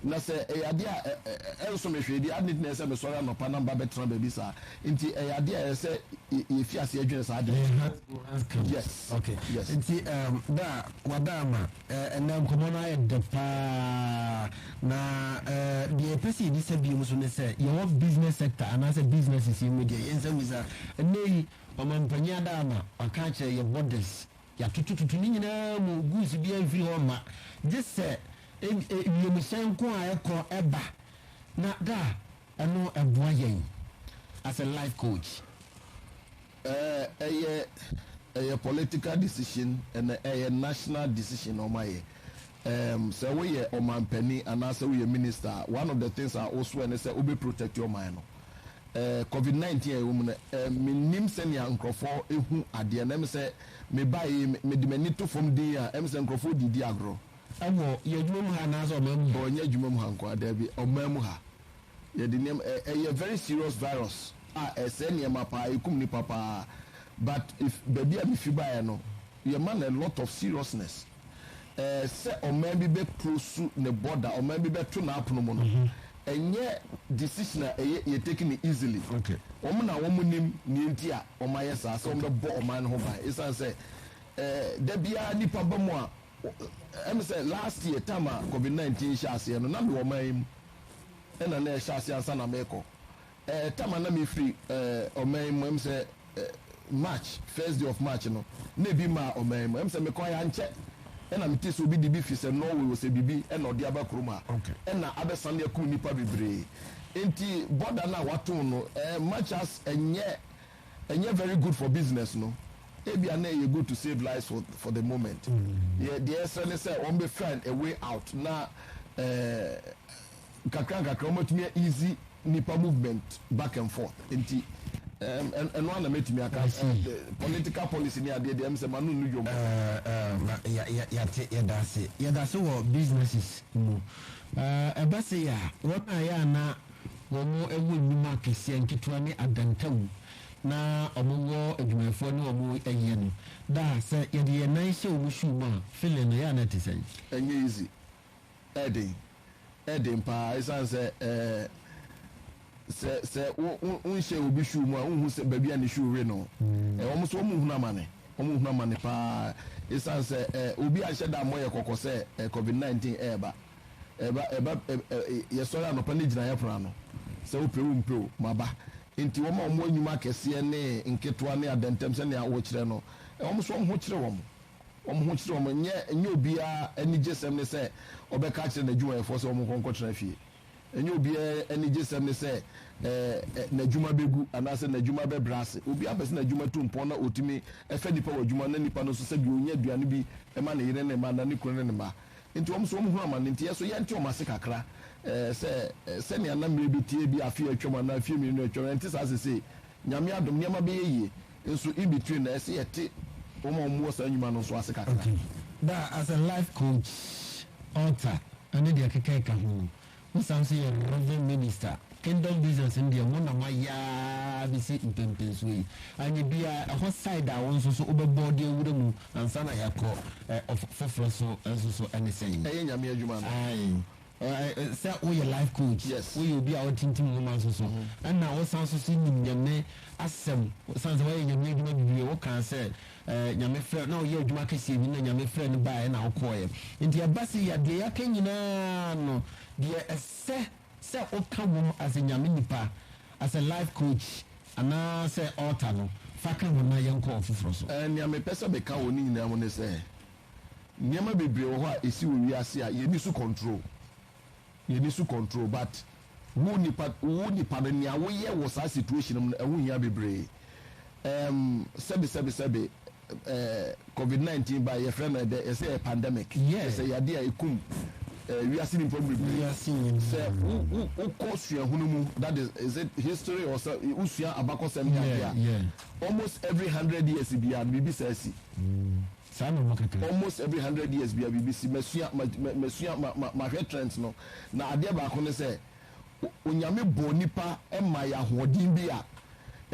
Na sɛ ɛyɛ ade a ɛnso me hwee deɛ, adɛn nti na ɛsɛ sɛ mesɔre anɔpa na meba bɛtena baabi saa? Nti ɛyɛ ade a ɛsɛ sɛ yɛfi aseɛ dwene saa adwene no ho. Yes. Okay. Yes. Nti um, da a wada ama ɛnna nkɔmmɔ no ayɛ dɛ paa na deɛ yɛpɛ sɛ yɛdi sɛ biom so ne sɛ yɛwɔ business sector anaasɛ businesses yi mu deɛ yɛnsɛ mu sɛ ɛnɛ yi ɔmampanyin ada ama ɔka akyerɛ yɛ borders Yɛatotototo ne nyinaa mu, goods biara mfiri hɔ mma, gye sɛ wiemhyɛn ko a ɛkɔ ɛba, na da a ɛno ɛboa yɛn as a life coach. Ɛɛ ɛyɛ ɛyɛ political decision ɛna ɛyɛ national decision na wɔn ayɛ. Ɛɛm sɛ wo yɛ ɔmanpanin anaasɛ wo yɛ minister a, one of the things a wo soɛ ne sɛ wo bɛ protect ɔman no. Covid nineteen a yɛwɔ mu no, mennim sɛnea nkurɔfoɔ hu adeɛ no. Ɛm sɛ mebaa yi, mede m'ani to fam dinn a, ɛm sɛ nkurɔfoɔ redidi agorɔ. Ɛwɔ yɛn adwuma mu ha anaasɛ ɔman mu ha? Ɔnyɛ adwuma mu ha nko ara, daabi, ɔman mu ha. Yɛde nneɛma, ɛyɛ very serious virus a ɛsɛe nneɛma paa, ɛkum nnipa paa. But if baabi a mefi baeɛ no, yɛma no a lot of seriousness. eh, sɛ ɔman bi bɛ prosu ne border, ɔman bi bɛ to n'apono mu no, mhm. ɛnyɛ decision a ɛyɛ yɛ taking it easily. Okay. Wɔn na wɔn nim nea enti a wɔn ayɛ saa sɛ wɔn bɛ bɔ ɔman no ho ban. Esan sɛ eh, da biara nipa ba mu a, ɛmi eh, sɛ last year time a COVID nineteen hyɛ aseɛ no, na mi wɔ ɔman yi mu, ɛna na ɛhyɛ aseɛ ansa na mi kɔ. Eh tam a na me firi eh ɔman mu ɛm sɛ eh March first day of March no na ebi maa ɔman mu ɛm sɛ me kɔɛ ankyɛ ɛna me te sɛ obi de bi firi sɛ Norway wɔ sɛ biribi ɛna ɔde aba kurom ha ɛna abɛ sane akum nnipa bebree nti border no a wato no eh much as ɛnyɛ ɛnyɛ very good for business no ebi a na ɛyɛ good to save lives for for the moment yɛ deɛ ɛsrɛ ne sɛ wɔn bɛ find a way out na eh. nkakra nkakra wɔatumi a easy nipa movement back and forth nti ɛno ana mɛtumi aka political policy ne adeɛ deɛ sɛ mano no dwom yɛte yɛdase yɛdase wɔ businesses mu ɛba sɛ yɛ a wɔn a yɛ ana wɔn ɛwɔ nnwuma akɛseɛ nketewa ne adantawu na wɔn wɔ adwumayɛfoɔ ne wɔn ɛyɛ no daa sɛ yɛde yɛn nan hyɛ wɔn shoe mu a feeling no yɛ ana te sɛn ɛnyɛ easy ɛyɛ den, ɛyɛ den pa ara esiane sɛ ɛɛ sɛ sɛ wo wo wonhyɛ obi shoe mu a wonhu sɛ baabi a ne shoe we no. Ɛɛ wɔn nso wɔn hunu amane, wɔn hunu amane pa ara esiane sɛ ɛɛ obi anhyɛ da ammɔ yɛ kɔkɔ sɛ ɛɛ covid nineteen ɛreba, ɛba ɛba ɛɛ yɛsɔre anɔpa ne gyinaeɛ pono ano sɛ wopɛ wompɛ o maba. Nti wɔn a wɔn wɔ nnwuma akɛseɛ ne nketewa ne adɛntɛm sɛnea wɔkyerɛ no, wɔn nso wɔn ho kyere wɔn. wɔn ho kyerɛ wɔn. Ɛnyɛ ɛnyɛ obiara anigyesɛm ne sɛ ɔbɛka akyerɛ n'adwumayɛfoɔ sɛ wɔnkɔ nkɔtena fie. Ɛnyɛ obiara anigyesɛm ne sɛ ɛɛ n'adwuma bɛgu anaasɛ n'adwuma bɛbrɛ ase. Obiara pɛ sɛ n'adwuma tu mpɔn na ɔtumi fa nnipa wɔ adwuma na nnipa no nso sɛdeɛ ɔnya aduane bi ma ne yere ne mma anaa ne kunu ne ne mma. Enti wɔn nso wɔhunu amane nti yɛn so yɛnte wɔn ase kakra ɛɛ sɛ sɛnea na mmerɛ bi teɛ bi afe a atwam anaa mfeɛ mmienu a atwam ɛnte saa sesei. Nyame adom nneɛma bɛyɛ yie. nso in between na ɛsɛ yɛte wɔn a wɔwɔ saa nnwuma no nso ase kakra. Okay, daa as a life coach, author ɛne deɛ ɛkeka ɛka ho no, wosan nso yɛ Reverend Minister, Kingdom Business no deɛ mo na moayɛ ara bɛsi mpɛnpɛnsoɔ yi, anyɛ biara ɛhɔ side a wo nso so wobɛbɔ de awura mu ansa na yɛakɔ ɛ, ɔfa foforɔ so nso so ɛne sɛn? Ɛyɛ Nyame adwuma no. Aye. Sɛ woyɛ life coach, woyɛ obi a wotintim nwoma nso so, ɛnna wosan nso so nim Nyame asɛm, san sɛ woayɛ Nyame adwuma bebree. Wokaa sɛ Nyame frɛ na woyɛ adwuma kɛseɛ bi na Nyame frɛ no baeɛ na wokɔeɛ. Nti ɛba sɛ yɛ deɛ yɛaka nyinaa no, deɛ ɛsɛ sɛ woka wom as a Nyame nipa, as a life coach anaasɛ author no, fa ka ho na yɛnkɔ foforɔ so. Nea mepɛ sɛ meka wɔ ne nyinaa mu ne sɛ, Nneɛma bebree wɔ hɔ a ɛsi wɔ wiase a yɛnni so control. Yɛnni so control but wo nipa wo nipa no nea woyɛ wɔ saa situation mu no ɛho hia bebree. Ɛɛm sɛbe sɛbe sɛbe ɛɛ covid 19 ba yɛfrɛ no ɛdɛ yɛsɛ ɛyɛ pandemic yɛsɛ yade a ɛkum ɛɛ wiase nipa bebree. Sɛ wo wo wokɔ suahunu mu that is is it history or sɛ wosua abakɔsɛm ne adeɛ a almost every hundred years biara no biribi saa si. Saa na ɔma kaka. Almost every hundred years bia biribi si. Masua, ma, ma, masua, ma, ma, mahwɛ trends no. Na adeɛ baako ne sɛ, O, Onyame bɔɔ nipa maa yɛ ahoɔden bi a,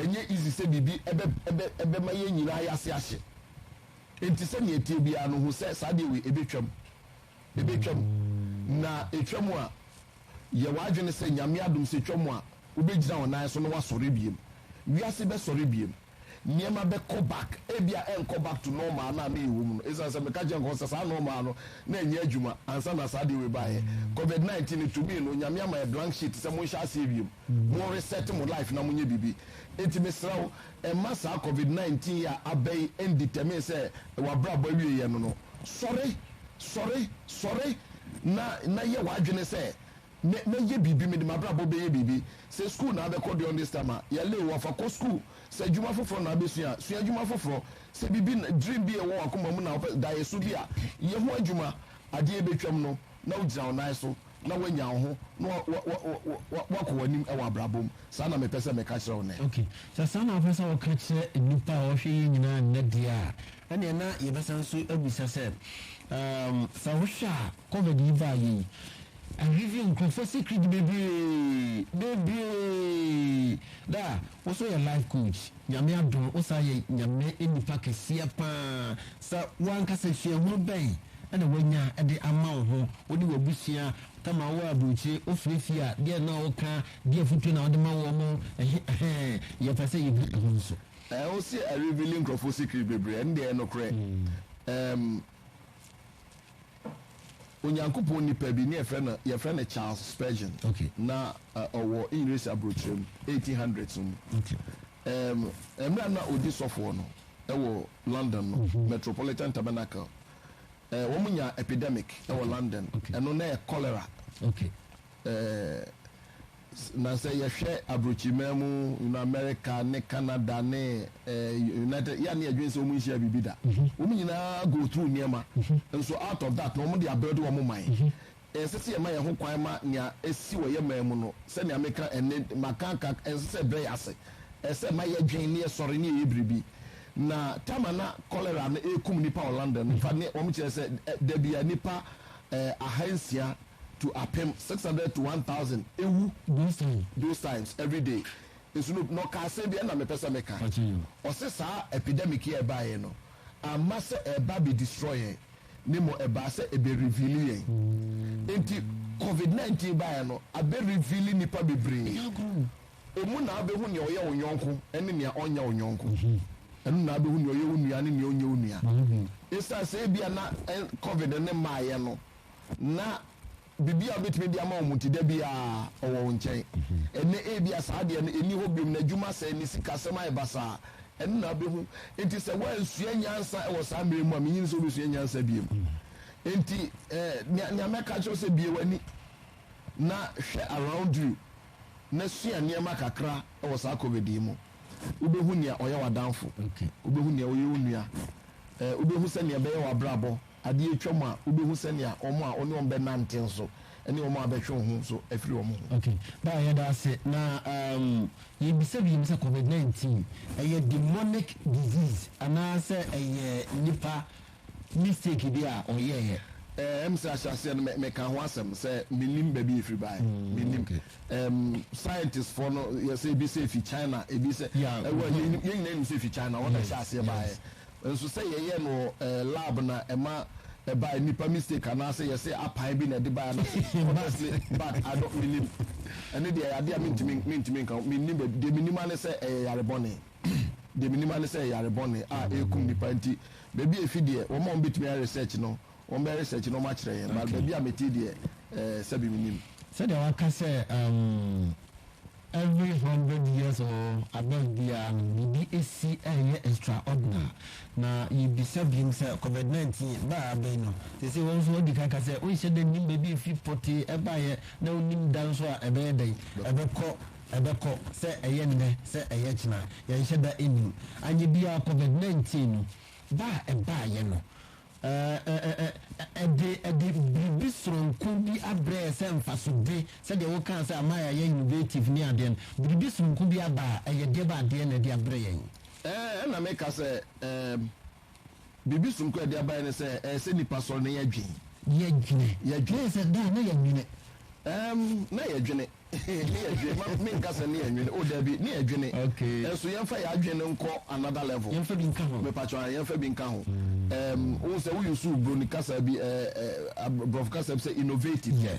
ɛnyɛ easy sɛ biribi ɛbɛ, ɛbɛ, ɛbɛma yɛn nyinaa yɛ ase ahye. Enti sɛdeɛ ɛteɛ biara no, hu sɛ saa adeɛ wei, ɛbɛtwam. Ɛbɛtwam. Na ɛtwam a, yɛ w'adwene sɛ, Nyame adom, sɛ ɛtwam a, wobɛgyina wo nan so na woasɔre biom. Wiase bɛsɔre biom. nneɛma bɛkɔ back, ebia ɛnkɔ back to normal a na meyɛ wɔ mu no, esiane sɛ meka kyerɛɛ nkurɔfo sɛ saa normal no na ɛnyɛ adwuma ansa na saa adeɛ wei baeɛ. Covid nineteen no tumi no, Nyame ama yɛ blank sheet sɛ monhyɛ aseɛ wiem, mo reset mo life na monyɛ biribi. Enti mesrɛ wo, mma saa Covid nineteen yi a aba yi ndetermine sɛ w'abrabɔ awieɛ no no. Sɔre! Sɔre! Sɔre! Na na yɛ w'adwene sɛ Mɛ mɛyɛ biribi mede mabrabɔ bɛyɛ biribi sɛ school na abɛkɔ during this time a yɛle wo a fa kɔ school sɛ adwuma foforɔ na abɛsua a sua adwuma foforɔ sɛ biribi na dream bi a ɛwɔ wakoma mu na wopɛ daeɛso bi a yɛ ho adwuma adeɛ a ɛbɛtwam no na wogyina wo nan so na woanya wo ho na wa wa wa wa wa wakɔ w'anim ɛwɔ abrabɔ mu saa na mepɛ sɛ meka kyerɛ wo nnɛ. Ok sɛ saa na wopɛ sɛ woka kyerɛ nnipa a wɔhwɛ yɛn nyinaa nnɛ deɛ a ɛneɛ na yɛbɛsan nso abisa sɛ um sɛ wohwɛ a. Covid yi baeɛ yi, ahwɛ bio nkurɔfoɔ sikiri di bebree, bebree, da a wo so yɛ life coach, Nyame adom wo san yɛ Nyame nipa kɛseɛ paa, sɛ wo ankasa suahunu bɛn na wanya de ama wo ho, wo ne w'abusua, kama wo aburokyire, wo frɛ fie a, deɛ na wo ka, deɛ afutuo na wo de ma wɔn mo, ɛhe, ɛhɛɛ, yɛ pɛ sɛ yɛ hu ɛho nso. Wo se a reveali nkurɔfoɔ sikiri bebree, ɛndeɛ ɛnokorɛ, ɛɛm. Onyankopɔn nipa bi ne yɛfrɛ no yɛfrɛ no Charles Spurgeon okay. na uh, ɔwɔ English aburokyerɛ mu 1800s mu okay. um, mmerɛ na ɔdi sɔfoɔ no ɛwɔ London no mm -hmm. Metropolitan Tabernacle uh, wɔn nya epidemic ɛwɔ okay. London ɛno okay. na yɛ cholera okay. Ɛɛ, na sɛ yɛhwɛ aburokyiman mu, you know, America ne Canada ne ɛɛ, United, yɛ a ne yɛdwen sɛ wɔn nhyiaa biribi da. Wɔn nyinaa go through nneɛma. Nso out of that no, wɔde abuild wɔn man. Ɛnsɛ sɛ yɛma yɛn ho kwan ma nea asi wɔ yɛn man mu no, sɛnea meka ɛnnɛ, maka aka, ɛnsɛ sɛ ɛbrɛ yɛn ase. Ɛsɛ sɛ ɛma yɛdwen na yɛsɔre na yɛyɛ biribi. Na time a na cholera no rekum nnipa wɔ London no, in fact, ne wɔkyerɛ sɛ da biara nnipa ahansia to apem, six hundred to one thousand, ewu those times, those times every day. Nso no, na ɔka asɛm bi ɛna mepɛ sɛ meka. Ɔse saa epidemic yi a ɛbaeɛ no, amma sɛ ɛreba abɛ destroy yɛn, na mmom ɛbaa sɛ ɛbɛ reveal yɛn. Enti Covid nineteen baeɛ no, abɛ reveal nnipa bebree. Emu na abehu nea ɔyɛ wo yɔnko ne nea ɔnyɛ wo yɔnko. Ɛno na abehu nea ɔyɛ wo nua ne nea ɔnyɛ wo nua. Esiane sɛ ebia na Covid no mmaeɛ no, na biribi a wobɛtumi de ama wɔn nti, da biara ɔwɔ wo nkyɛn. Ɛnnɛ, ebia saa adeɛ no nni hɔ biom, n'adwuma asɛe, ne sikasɛm ayɛ basaa. Ɛno na abehu. Enti sɛ woansua nyansa wɔ saa mmerɛ yi mu a, mennye nni sɛ wobɛsua nyansa biom. Enti nea mɛka akyerɛ wo sɛ, bue w'ani na hwɛ around you. na sua nneɛma kakra wɔ saa COVID yi mu. Wobɛhu nea ɔyɛ w'adamfo. Wobɛhu nea ɔyɛ wo nua. Eh, wobɛhu sɛnea ɛbɛyɛ w'abrabɔ. Adeɛ atwam a, wobɛhu sɛnea wɔn a wo ne wɔn bɛnante nso ne wɔn a bɛtwe wo ho nso afiri wɔn ho. Okay, Paa yɛda ase. Na um, yɛbisa biom sɛ COVID-19 ɛyɛ demonic disease anaasɛ ɛyɛ nipa mistake bi a ɔyɛeɛ. Eh, ɛm sɛ ahyɛaseɛ no me, meka ho asɛm sɛ mennim baabi ɛfiri baeɛ, mm, mennim. Okay. Um, scientist foɔ no yɛsɛ ebi sɛ ɛfi China, ebi sɛ yeah, ɛwɔ mm-hmm. yɛn yɛn nyinaa nim sɛ ɛfi China wɔn na ɛhyɛ aseɛ baeɛ. Nso sɛ yɛyɛ no eh, lab na ɛma ɛbaeɛ nipa mistake anaasɛ yɛsɛ apan bi na ɛde baeɛ anaasɛ honestly but I don't menim ɛne deɛ ɛyɛ adeɛ a mentumi mentumi nka mennim baabi deɛ menim ane sɛ ɛyɛ yarebɔne. deɛ menim ara ne sɛ yare bɔne a ɛkum nnipa nti baabi a ɛfi deɛ wɔn a wɔbɛtumi ayɛ research no wɔbɛyɛ research no wɔakyerɛ yɛn but baabi a mete deɛ eh, sɛbi menim sɛdeɛ waka sɛ um, every hundred years or above biara no biribi ɛsi ɛyɛ extraordinary na yɛbisa biom sɛ covid-19 baa abɛn no te sɛ wɔn nso ɔdi kaka sɛ wonhyɛ da nim baabi ɛfi pɔtee ɛbaeɛ na wonim da nso a ɛbɛyɛ dɛn ɛbɛkɔ Ɛbɛkɔ, sɛ ɛyɛ nnɛ, sɛ ɛyɛ kyena, yɛnhyɛ da nnim. Anyɛ biara Covid nineteen no ba a ɛbaeɛ no, ɛde ɛde biribi soronko bi abrɛ yɛn sɛ mfasode, sɛdeɛ wokaa sɛ ama yɛayɛ innovative ne adeɛ no, biribi soronko bi aba a, ɛyɛ deɛ bɛ adeɛ na ɛde abrɛ yɛn. Ɛɛ, ɛna meka sɛ, ɛɛ, Biribi soronko a ɛde abae ne sɛ ɛyɛ sɛ nnipa sɔre na yɛdwen. Yɛdwene. Yɛdwen sɛ daa na yɛnwene. Ɛɛm, na yɛdwene. Ne yɛdwene. Ma menka sɛ ne yɛnwene. O, dabi, ne yɛdwene. Okay. Nso yɛmfa yɛn adwene no nkɔ another level. Yɛmfa bi nka ho. Mepakyɛw, ae, yɛmfa bi nka ho. Ɛɛm, wohu sɛ wo use Buroni kasa bi, ɛɛ, ɛɛ, Aborɔfo kasa bi sɛ innovative. Yeah.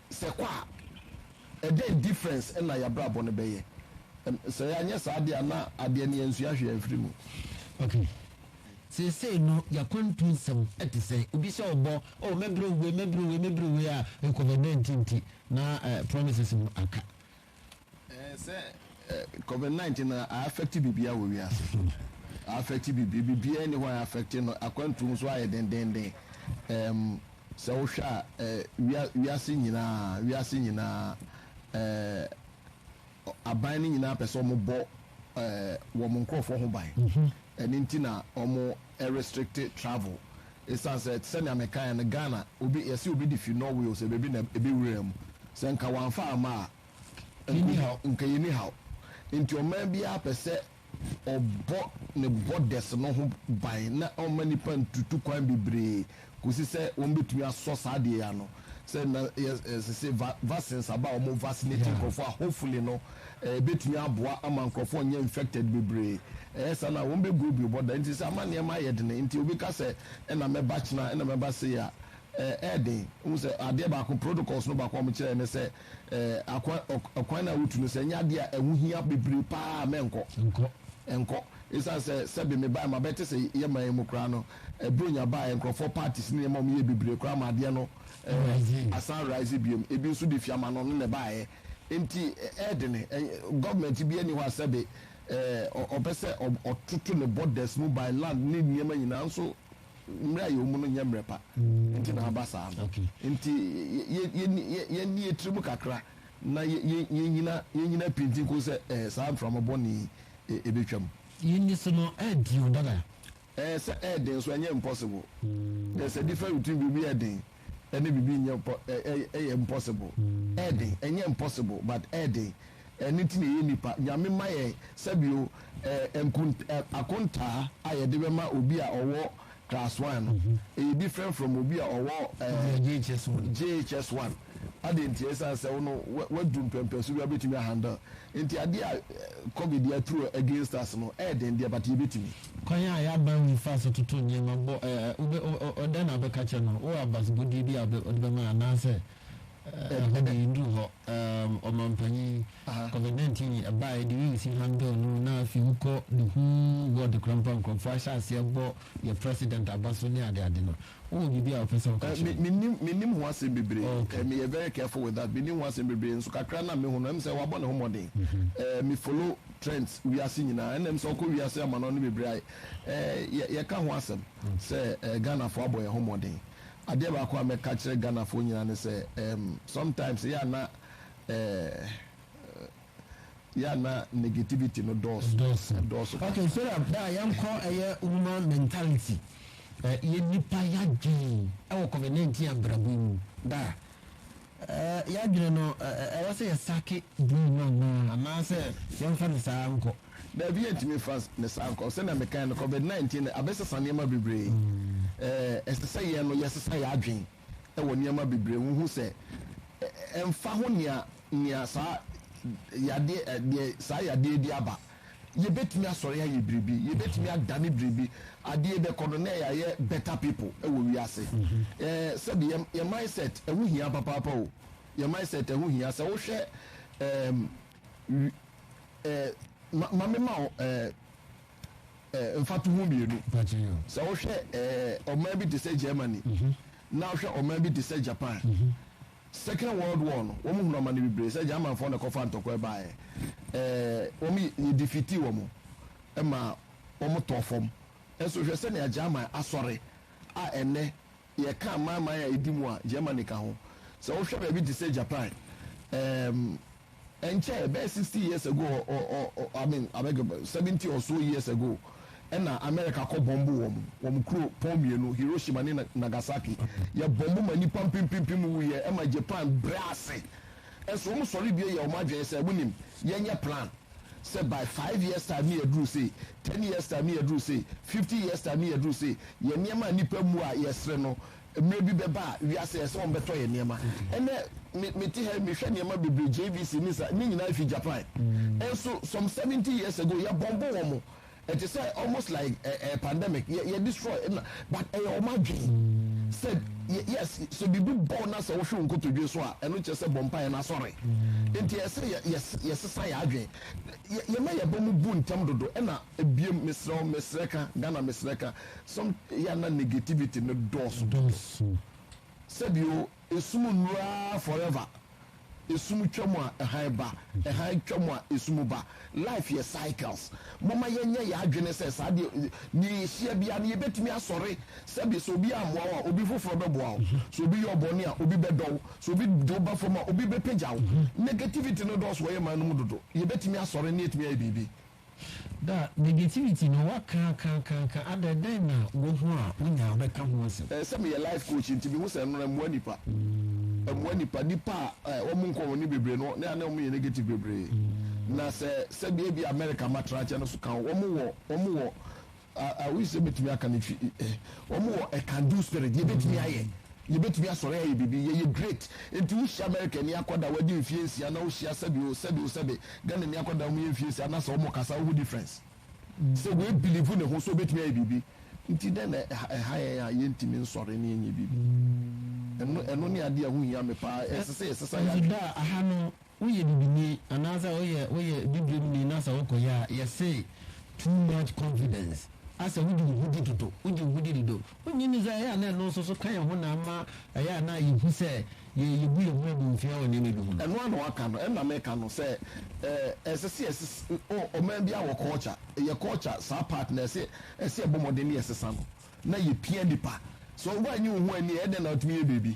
Sɛ kɔ a, ɛdɛn difference na y'abrabɔ no bɛyɛ? Sɛ y'anyɛ saa deɛ a na adeɛ no y'ansua hwee amfiri mu. Ok, seesei no y'akwantu nsɛm te sɛ obi hyɛ wo bɔ, oh mɛbrɛ wo wei, mɛbrɛ wo wei, mɛbrɛ wo wei a, ɛkɔ hɔ, dɛn nti nti? Na promises no aka. Sɛ covid nineteen no a affect biribiara wɔ wiase, a affect biribiara, biribiara nni hɔ a affect no, akwantuo nso ayɛ dendenden. Um, sɛ wohwɛ a eh, wia, wiase nyinaa, wiase nyinaa, eh, aban no nyinaa pɛ sɛ wɔbɔ eh, wɔn nkurɔfoɔ ho ban. Mhm. Ɛno nti na wɔn restrict travel. Esiane sɛ te sɛ nea mekae no, Ghana, obi, yɛse obi de fi Norway o, sɛ baabi na ebi wuraa mu. Sɛ nka wɔamfa amma a, nka yenni haw. Enti ɔman biara pɛ sɛ ɔbɔ ne borders no ho ban na ɔmma nnipa ntutu kwan bebree kosi sɛ wɔbetumi asɔ saa ade yi ano. sɛ na yɛ eh, sese va vaccines aba a wɔn vaccinate Yeah. nkurɔfoɔ a hopefully no eh, ebetumi aboa ama nkurɔfoɔ nyɛ infected bebree ɛyɛ saa na wɔn bɛ go bi bɔ da nti sɛ ama nneɛma ayɛ dene nti obi ka sɛ ɛna mɛba kyena ɛna mɛba se a eh, ɛyɛ den n sɛ adeɛ baako protocols no baako a wɔn kyerɛ ne sɛ eh, akwan ɔk- ɔkwan no a wotu no sɛ ɛnyɛ adeɛ a ɛho hia bebree paa a mɛnkɔ Nkɔ. ɛnkɔ ɛsiane sɛ sɛbe mebae ma bɛte sɛ yɛma yi mu koraa no ɛbrɛ nya baeɛ nkorɔfoɔ parties ne nneɛma a wɔyɛ bebree koraa ma adeɛ no asan rise biom ebi nso de fiamano no na ɛbaeɛ nti ɛyɛ dene government bi ani hɔ a sɛbe ɔpɛ sɛ ɔtoto ne borders mu by land ne nneɛma nyinaa nso mmerɛ a yɛwɔ mu no nyɛ mmerɛ pa mm. nti na aba saa no nti yɛni yɛtiri mu kakra na yɛnyina pinti nko sɛ saa mframabɔne ɛbɛtwam yɛni so no ɛdio dada Ɛɛ sɛ ɛyɛ den nso ɛnyɛ impossible. There is a difference between biribi yɛ den ɛne biribi nyɛ mpɔ ɛ ɛ ɛyɛ impossible. Ɛyɛ den, ɛnyɛ impossible but ɛyɛ den. Ɛno nti na ɛyɛ nnipa. Nyame mma yɛn sɛbio ɛɛ nkont ɛ akontaa a yɛde bɛma obi a ɔwɔ class one no ɛyɛ different from obi a ɔwɔ ɛɛ JHS one JHS one. Adɛn ntia? Ɛsiane sɛ wo no wa wadu mpɛmpɛso bi a wobɛtumi a handle. Nti adeɛ a covid aturu against us no ɛyɛ den deɛ but yɛbɛtumi. Kwan a yɛaba mu fa so toto nneɛma bɔ ɛ ɛ wobɛ ɔ ɔ dɛn na wobɛka kyerɛ no? Wowɔ abasobɔdeɛ bi a wobɛ wode bɛma anaasɛ ɛ ɛ ɛhɔ deɛ yɛnnuru hɔ? Ɛ ɛ Ɔmanpanyin, Covid 19 yi ɛbaeɛ de wii si handle no na afei wokɔ the whole world koraa mpo a nkurɔfoɔ ahyɛ aseɛ bɔ yɛn President aba so ne adeade no. Wowɔ biribi a wopɛ sɛ woka kyerɛ me? Mennim, mennim ho asɛm bebree. Okay. Meyɛ very careful with that. Mennim ho asɛm bebree, nso kakra no a mehu no, ɛm sɛ wabɔ ne ho mmɔden. Eh, me follow trends wiase nyinaa, ɛna ɛm sɛ ɔkɔ wiase amanɔne no bebree a, eh, yɛ, yɛka ho asɛm sɛ eh, Ghanafoɔ abɔ yɛn ho mmɔden. Adeɛ baako a mɛka akyerɛ Ghanafoɔ nyinaa ne sɛ, ehm, sometimes ɛyɛ a na eh, yɛ a na negativity no dɔɔso. Ɛdɔɔso. Ɛdɔɔso paa. Okay, so na bɛ a yɛnkɔ ɛyɛ woman mentality, ɛ, yɛ nnipa yadwen ɛwɔ covid nineteen abrabɔ yi mu da a, ɛ, yadwene no ɛ, ɛ, ɛwɔ sɛ yɛ sake blue no anaa, anaa sɛ yɛnfa no saa nkɔ? Daabi, yɛntumi nfa no saa nkɔ. Sɛnea mekae no, covid nineteen no abɛsesa nneɛma bebree. Ɛ, ɛsɛ sɛ yɛn no yɛsesa yɛ adwene. wɔ nneɛma bebree ho hu sɛ ɛmfa ho nea nea saa yadeɛ deɛ saa yadeɛ de aba yɛbɛtumi asɔre ayɛ biribi yɛbɛtumi adane biribi adeɛ bɛkɔ no na yɛayɛ better people wɔ wiase ɛɛ sɛbi yɛ yɛ mindset ɛho hia papaapa o yɛ mindset ɛho hia sɛ wohwɛ ɛɛm ɛɛ ma ma mema wo ɛɛ. mfatoho mmienu. Sɛ wohwɛ ɔman bi te sɛ Germany na wohwɛ ɔman bi te sɛ Japan, Second World War no, wɔhunu amane bebree sɛ Germanfoɔ na ɛkɔfa ntɔkwa baeɛ. Wɔn yɛdifiti wɔn ma wɔtɔɔ fam. Nso hwɛ sɛnea German asɔre a ɛnnɛ Yɛka amanaman a edi mu a, Germany ka ho. Sɛ wohwɛ baabi te sɛ Japan, um, ɛnkyɛ, ɛbɛyɛ sixty years ago, or, or, or, I mean, I beg, seventy or so years ago, ɛna America kɔ bɔmbo wɔn, wɔn kuro pɔn mmienu, Hiroshima ne Nagasaki. Yɛ bɔmbo ma nnipa mpempempem wuiɛ, ɛma Japan brɛ ase. Ɛnso wɔn sɔre bie yɛ wɔn adwene sɛ, wonim, yɛnyɛ plan. sɛ by five years time ne yɛaduru sei, ten years time ne yɛaduru sei, fifty years time ne yɛaduru sei, yɛn nneɛma a nnipa mmu a yɛsere no, mmerɛ bi bɛba a wiase ɛsɛ sɛ wɔbɛtɔ yɛn nneɛma. Ɛnnɛ me mete ha yi mehwɛ nneɛma bebree JVC ne saa ne nyinaa ɛfiri Japan. Ɛnso some seventy years ago yɛbɔmbo wɔn. Ɛte sɛ almost like ɛ ɛ pandemic yɛ yɛ destroy na but ɛyɛ wɔn adwene sɛ yɛ yes sɛ biribi bɔ wo na sɛ wohwe wo nkotodwe so a ɛno kyerɛ sɛ bɔ mpaeɛ na sɔre nti ɛyɛ sɛ yɛ yɛ yɛ sesa yɛ adwene yɛ yɛ ma yɛ ba mu bu ntɛm dodo ɛna ebiem mesrɛ wo mesrɛ ka Ghana mesrɛ ka some yɛ na negativity no dɔɔso dodo sɛbi o. Esum nnuru ara forever Esum twa mu a hann ba Hann twa mu a esum ba Life yɛ cycles Momma yɛnyɛ yɛn adwene sɛ saa deɛ Nea yɛhyia biara no yɛbɛtumi asɔre Sɛbe sɛ obi ammoa wo a obi foforɔ bɛboa wo Sɛ obi yɛ wo bɔne a obi bɛdɔ wo Sɛ obi de wo ba fam a obi bɛpagya wo Negativity no dɔɔso wɔ yɛn man no mu dodo Yɛbɛtumi asɔre na yɛatumi ayɛ biribi Da negativity no wa ka ka ka ka adɛ dɛn na wo ho a wo nya bɛ ka ho asɛm. Ɛɛ sɛ me yɛ life coach nti me hu sɛ ɛno ɛmoa nipa ɛmoa nipa nipa a ɛɛ wɔn nkɔ wɔn ni bebree no ne a ne wɔn yɛ negative bebree na sɛ sɛdeɛ ebi America ma tra kyɛ no so ka ho wɔn wɔ wɔn wɔ I wish sɛ mɛtumi aka no fi wɔn wɔ a can do spirit yɛbɛtumi ayɛ yɛbɛtumi asɔre ayɛ biribi yɛyɛ great nti wohyia America ni akɔda wadi mfie nsia na wohyia sɛbi o sɛbi o sɛbi Ghana ni akɔda wɔn yɛ mfie nsia na sɛ wɔn kasa wohu difference sɛ wei bilivu ne ho sɛ obɛtumi ayɛ biribi nti dɛn na ɛha yɛn a yɛntumi nsɔre ne yɛnyɛ biribi ɛno ɛno ne adeɛ a ho hia me paa ɛsɛ sɛ yɛsesa yɛ adwene. Nti da aha no Woyɛ bibini anaasɛ woyɛ woyɛ bibiremni na sɛ wokɔyɛ a yɛse too much confidence asɛ wogye wo ho di dodo wogye wo ho di dodo wonnye nni sɛ ɛyɛ a na ɛno nso so ka yɛn ho na ama ɛyɛ a na yɛhu sɛ yɛ yɛbu yɛn ho animtia wɔ nneɛma bi ho no. Ɛno ara na waka no ɛna meka no sɛ ɛɛ ɛsɛ sɛ yɛses o ɔman biara wɔ culture yɛ culture saa part no ɛsɛ ɛsɛ yɛbɔ mmɔden na yɛsesa no na yɛpia nnipa sɛ woannye wo ho anni a ɛyɛ dɛn na woatumi yɛ biribi.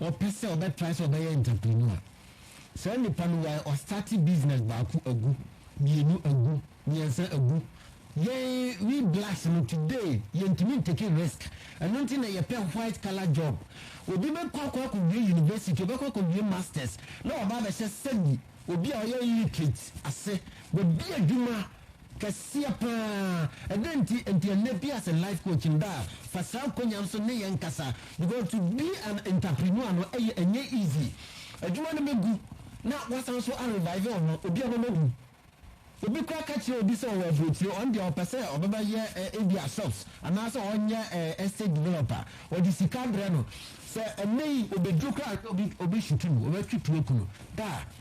ɔpɛ sɛ ɔbɛ try sɛ ɔbɛyɛ entrepreneur saa nipa no wae ɔstarte business baako agu mmienu agu mmiɛnsa agu yɛn we blacks no today yɛntumi ntake risk ɛno nti na yɛpɛ white color job obi bɛkɔ akɔ akɔwie university ɔbɛkɔ akɔwie masters na waba abɛhyɛ sɛbi obi a ɔyɛ illiterate ase wabi adwuma Kɛseɛ paa! Ɛdɛn nti? Nti ɛnnɛ bi as a life coach no daa fa saa nkonyaa nso ne yɛn kasa because to be an entrepreneur no ɛyɛ ɛnyɛ easy. Adwuma no bɛgu na wasan nso a revive wo ho. Obi ɔbɛma ɔhu. Obi koraa ka kyerɛ obi sɛ ɔwɔ aburokyire ɔno deɛ ɔpɛ sɛ ɔbɛba yɛ ebia shops anaasɛ ɔnyɛ estate developer ɔde sika brɛ no sɛ ɛnnɛ yi ɔbɛduru koraa a ɔbɛhyutu no ɔbɛtwe tuo ku no daa.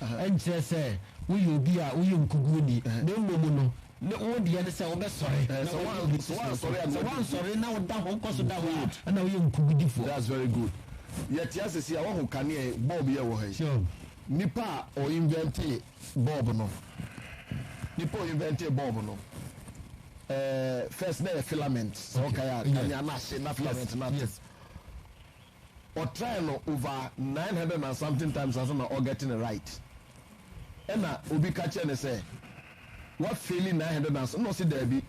ɛnkyerɛ sɛ woyɛ obi a woyɛ nkoguoni, na mmom no, ne wo deɛ ne sɛ wobɛsɔre na Sɛ woadi woan- obi sɛ foforo so. woansɔre a, Sɛ nea ɔdi- woansɔre na woda hɔ, wokɔ so da hɔ Good. a, na woyɛ nkogudifoɔ. That's very good. Yɛte ase sei a, woahu kanea yi, bulb yi a ɛwɔ ha yi? Sure. Nipa a ɔ inventee bulb no, nipa a ɔ inventee bulb no, ɛɛ, first na ɛyɛ filament, sɛ Okay. wokae a, Yeah. kanea no ahye na filament Yes, no ato. yes. ɔtrae no over nine hundred and something times ansa na ɔgɛte no right. Ɛna obi ka kyerɛ no sɛ, Woafeeli nine hundred and something. Ɛna ɔse, Daabi.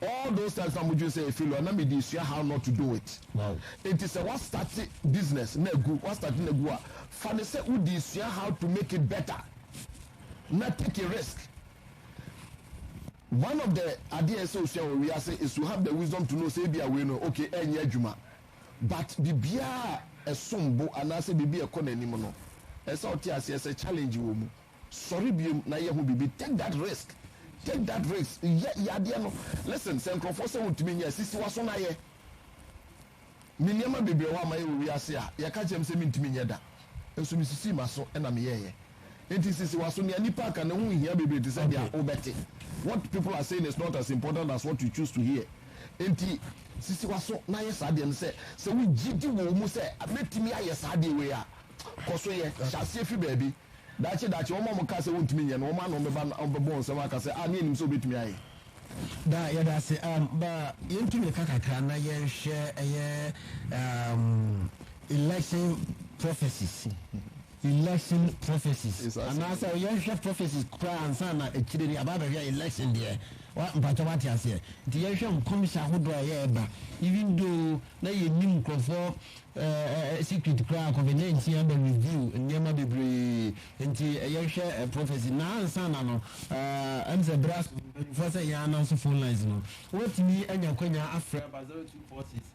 All those times na modwene sɛ ɛfeeli a, na mede sua how not to do it. Enti sɛ woastarte business na agu, woastarte no agu a, fa no sɛ wode sua how to make it better na take a risk. One of the adeɛ a ɛsɛ sɛ osua wɔ wiase is to have the wisdom to know sɛ ebia wei no, okay, ɛrenyɛ adwuma. But biribiara a ɛsom bo anaasɛ biribi a ɛkɔ n'anim no, ɛsɛ sɛ ɔte aseɛ sɛ challenge wɔ mu. Sɔre biom na yɛ ho biribi. Take that risk. Take that risk. Yɛ, yɛ adeɛ no. Listen, sɛ nkorɔfoɔ sɛ wontumi nyɛ a, sisi w'aso na yɛ. Me nneɛma bebree wɔ hɔ a mayɛ wɔ wiase a, yɛka kyerɛ me sɛ mentumi nyɛ da. Nso mesisii m'aso na meyɛeɛ. Enti sisi w'aso nea nnipa ka no ho nhia bebree te sɛ nea wobɛte. What people are saying is not as important as what you choose to hear. Enti sisi w'aso na yɛ saa adeɛ no. Sɛ sɛ wo gyidi wɔ wo mu sɛ mɛtumi ayɛ saa adeɛ wei a, kɔ so yɛ. Hyɛ aseɛ fi baabi. Daakye daakye wɔn a wɔkaa sɛ wontumi nyɛ no, wɔn ano bɛba na wɔbɛbɔ wo nsam aka sɛ, ah, ne yɛnim sɛ wobɛtumi ayɛ. Daa, yɛda ase. Um, ma yɛntu mmirika kakra na yɛnhwɛ ɛyɛ um, election prophecies. Election prophecies anaasɛ ɔyɛ hwɛ prophecies koraa ansa na akyire no yɛaba abɛhwɛ election deɛ wa mpakyɛ wate aseɛ nti yɛnhwɛ nkɔmhyɛ ahodoɔ a ɛyɛ ɛba even though na yɛnim nkurɔfoɔ ɛɛ eh, secret koraa covid 19 aba review nneɛma bebree nti yɛhwɛ eh, prophecy na ansa na no ɛɛ ɛm sɛ berɛ asɔfoɔ sɛ yɛn ananso phone lines no wɔtumi anya kwanya afrɛ aba 0246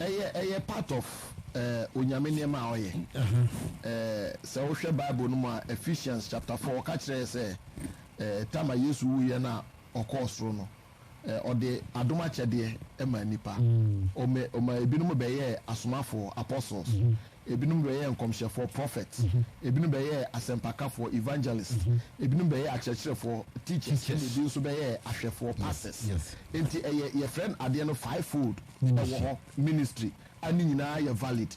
Ɛyɛ ɛyɛ part of eh, Onyame nneɛma a ɔyɛ. Eh, sɛ wohwɛ Bible no mu a, Ephesians chapter four, ɔka kyerɛ yɛ sɛ eh, time a Yesu wuyɛ no a ɔkɔɔ soro no, eh, ɔde adom akyɛdeɛ ɛmaa nnipa. Ɔma, ɔma ebinom bɛyɛɛ asomafoɔ, apostles, ebinom bɛyɛɛ nkɔmhyɛfoɔ, prophets, ebinom bɛyɛɛ asɛmpakafoɔ, evangelists, ebinom bɛyɛɛ akyerɛkyerɛfoɔ, teachers, ɛna Teachers. ebi nso bɛyɛɛ ahwɛfoɔ, pastors. Yes. Enti ɛyɛ, yɛfrɛ no adeɛ no five-fold. ɛwɔ hɔ ministry a ne nyinaa yɛ valid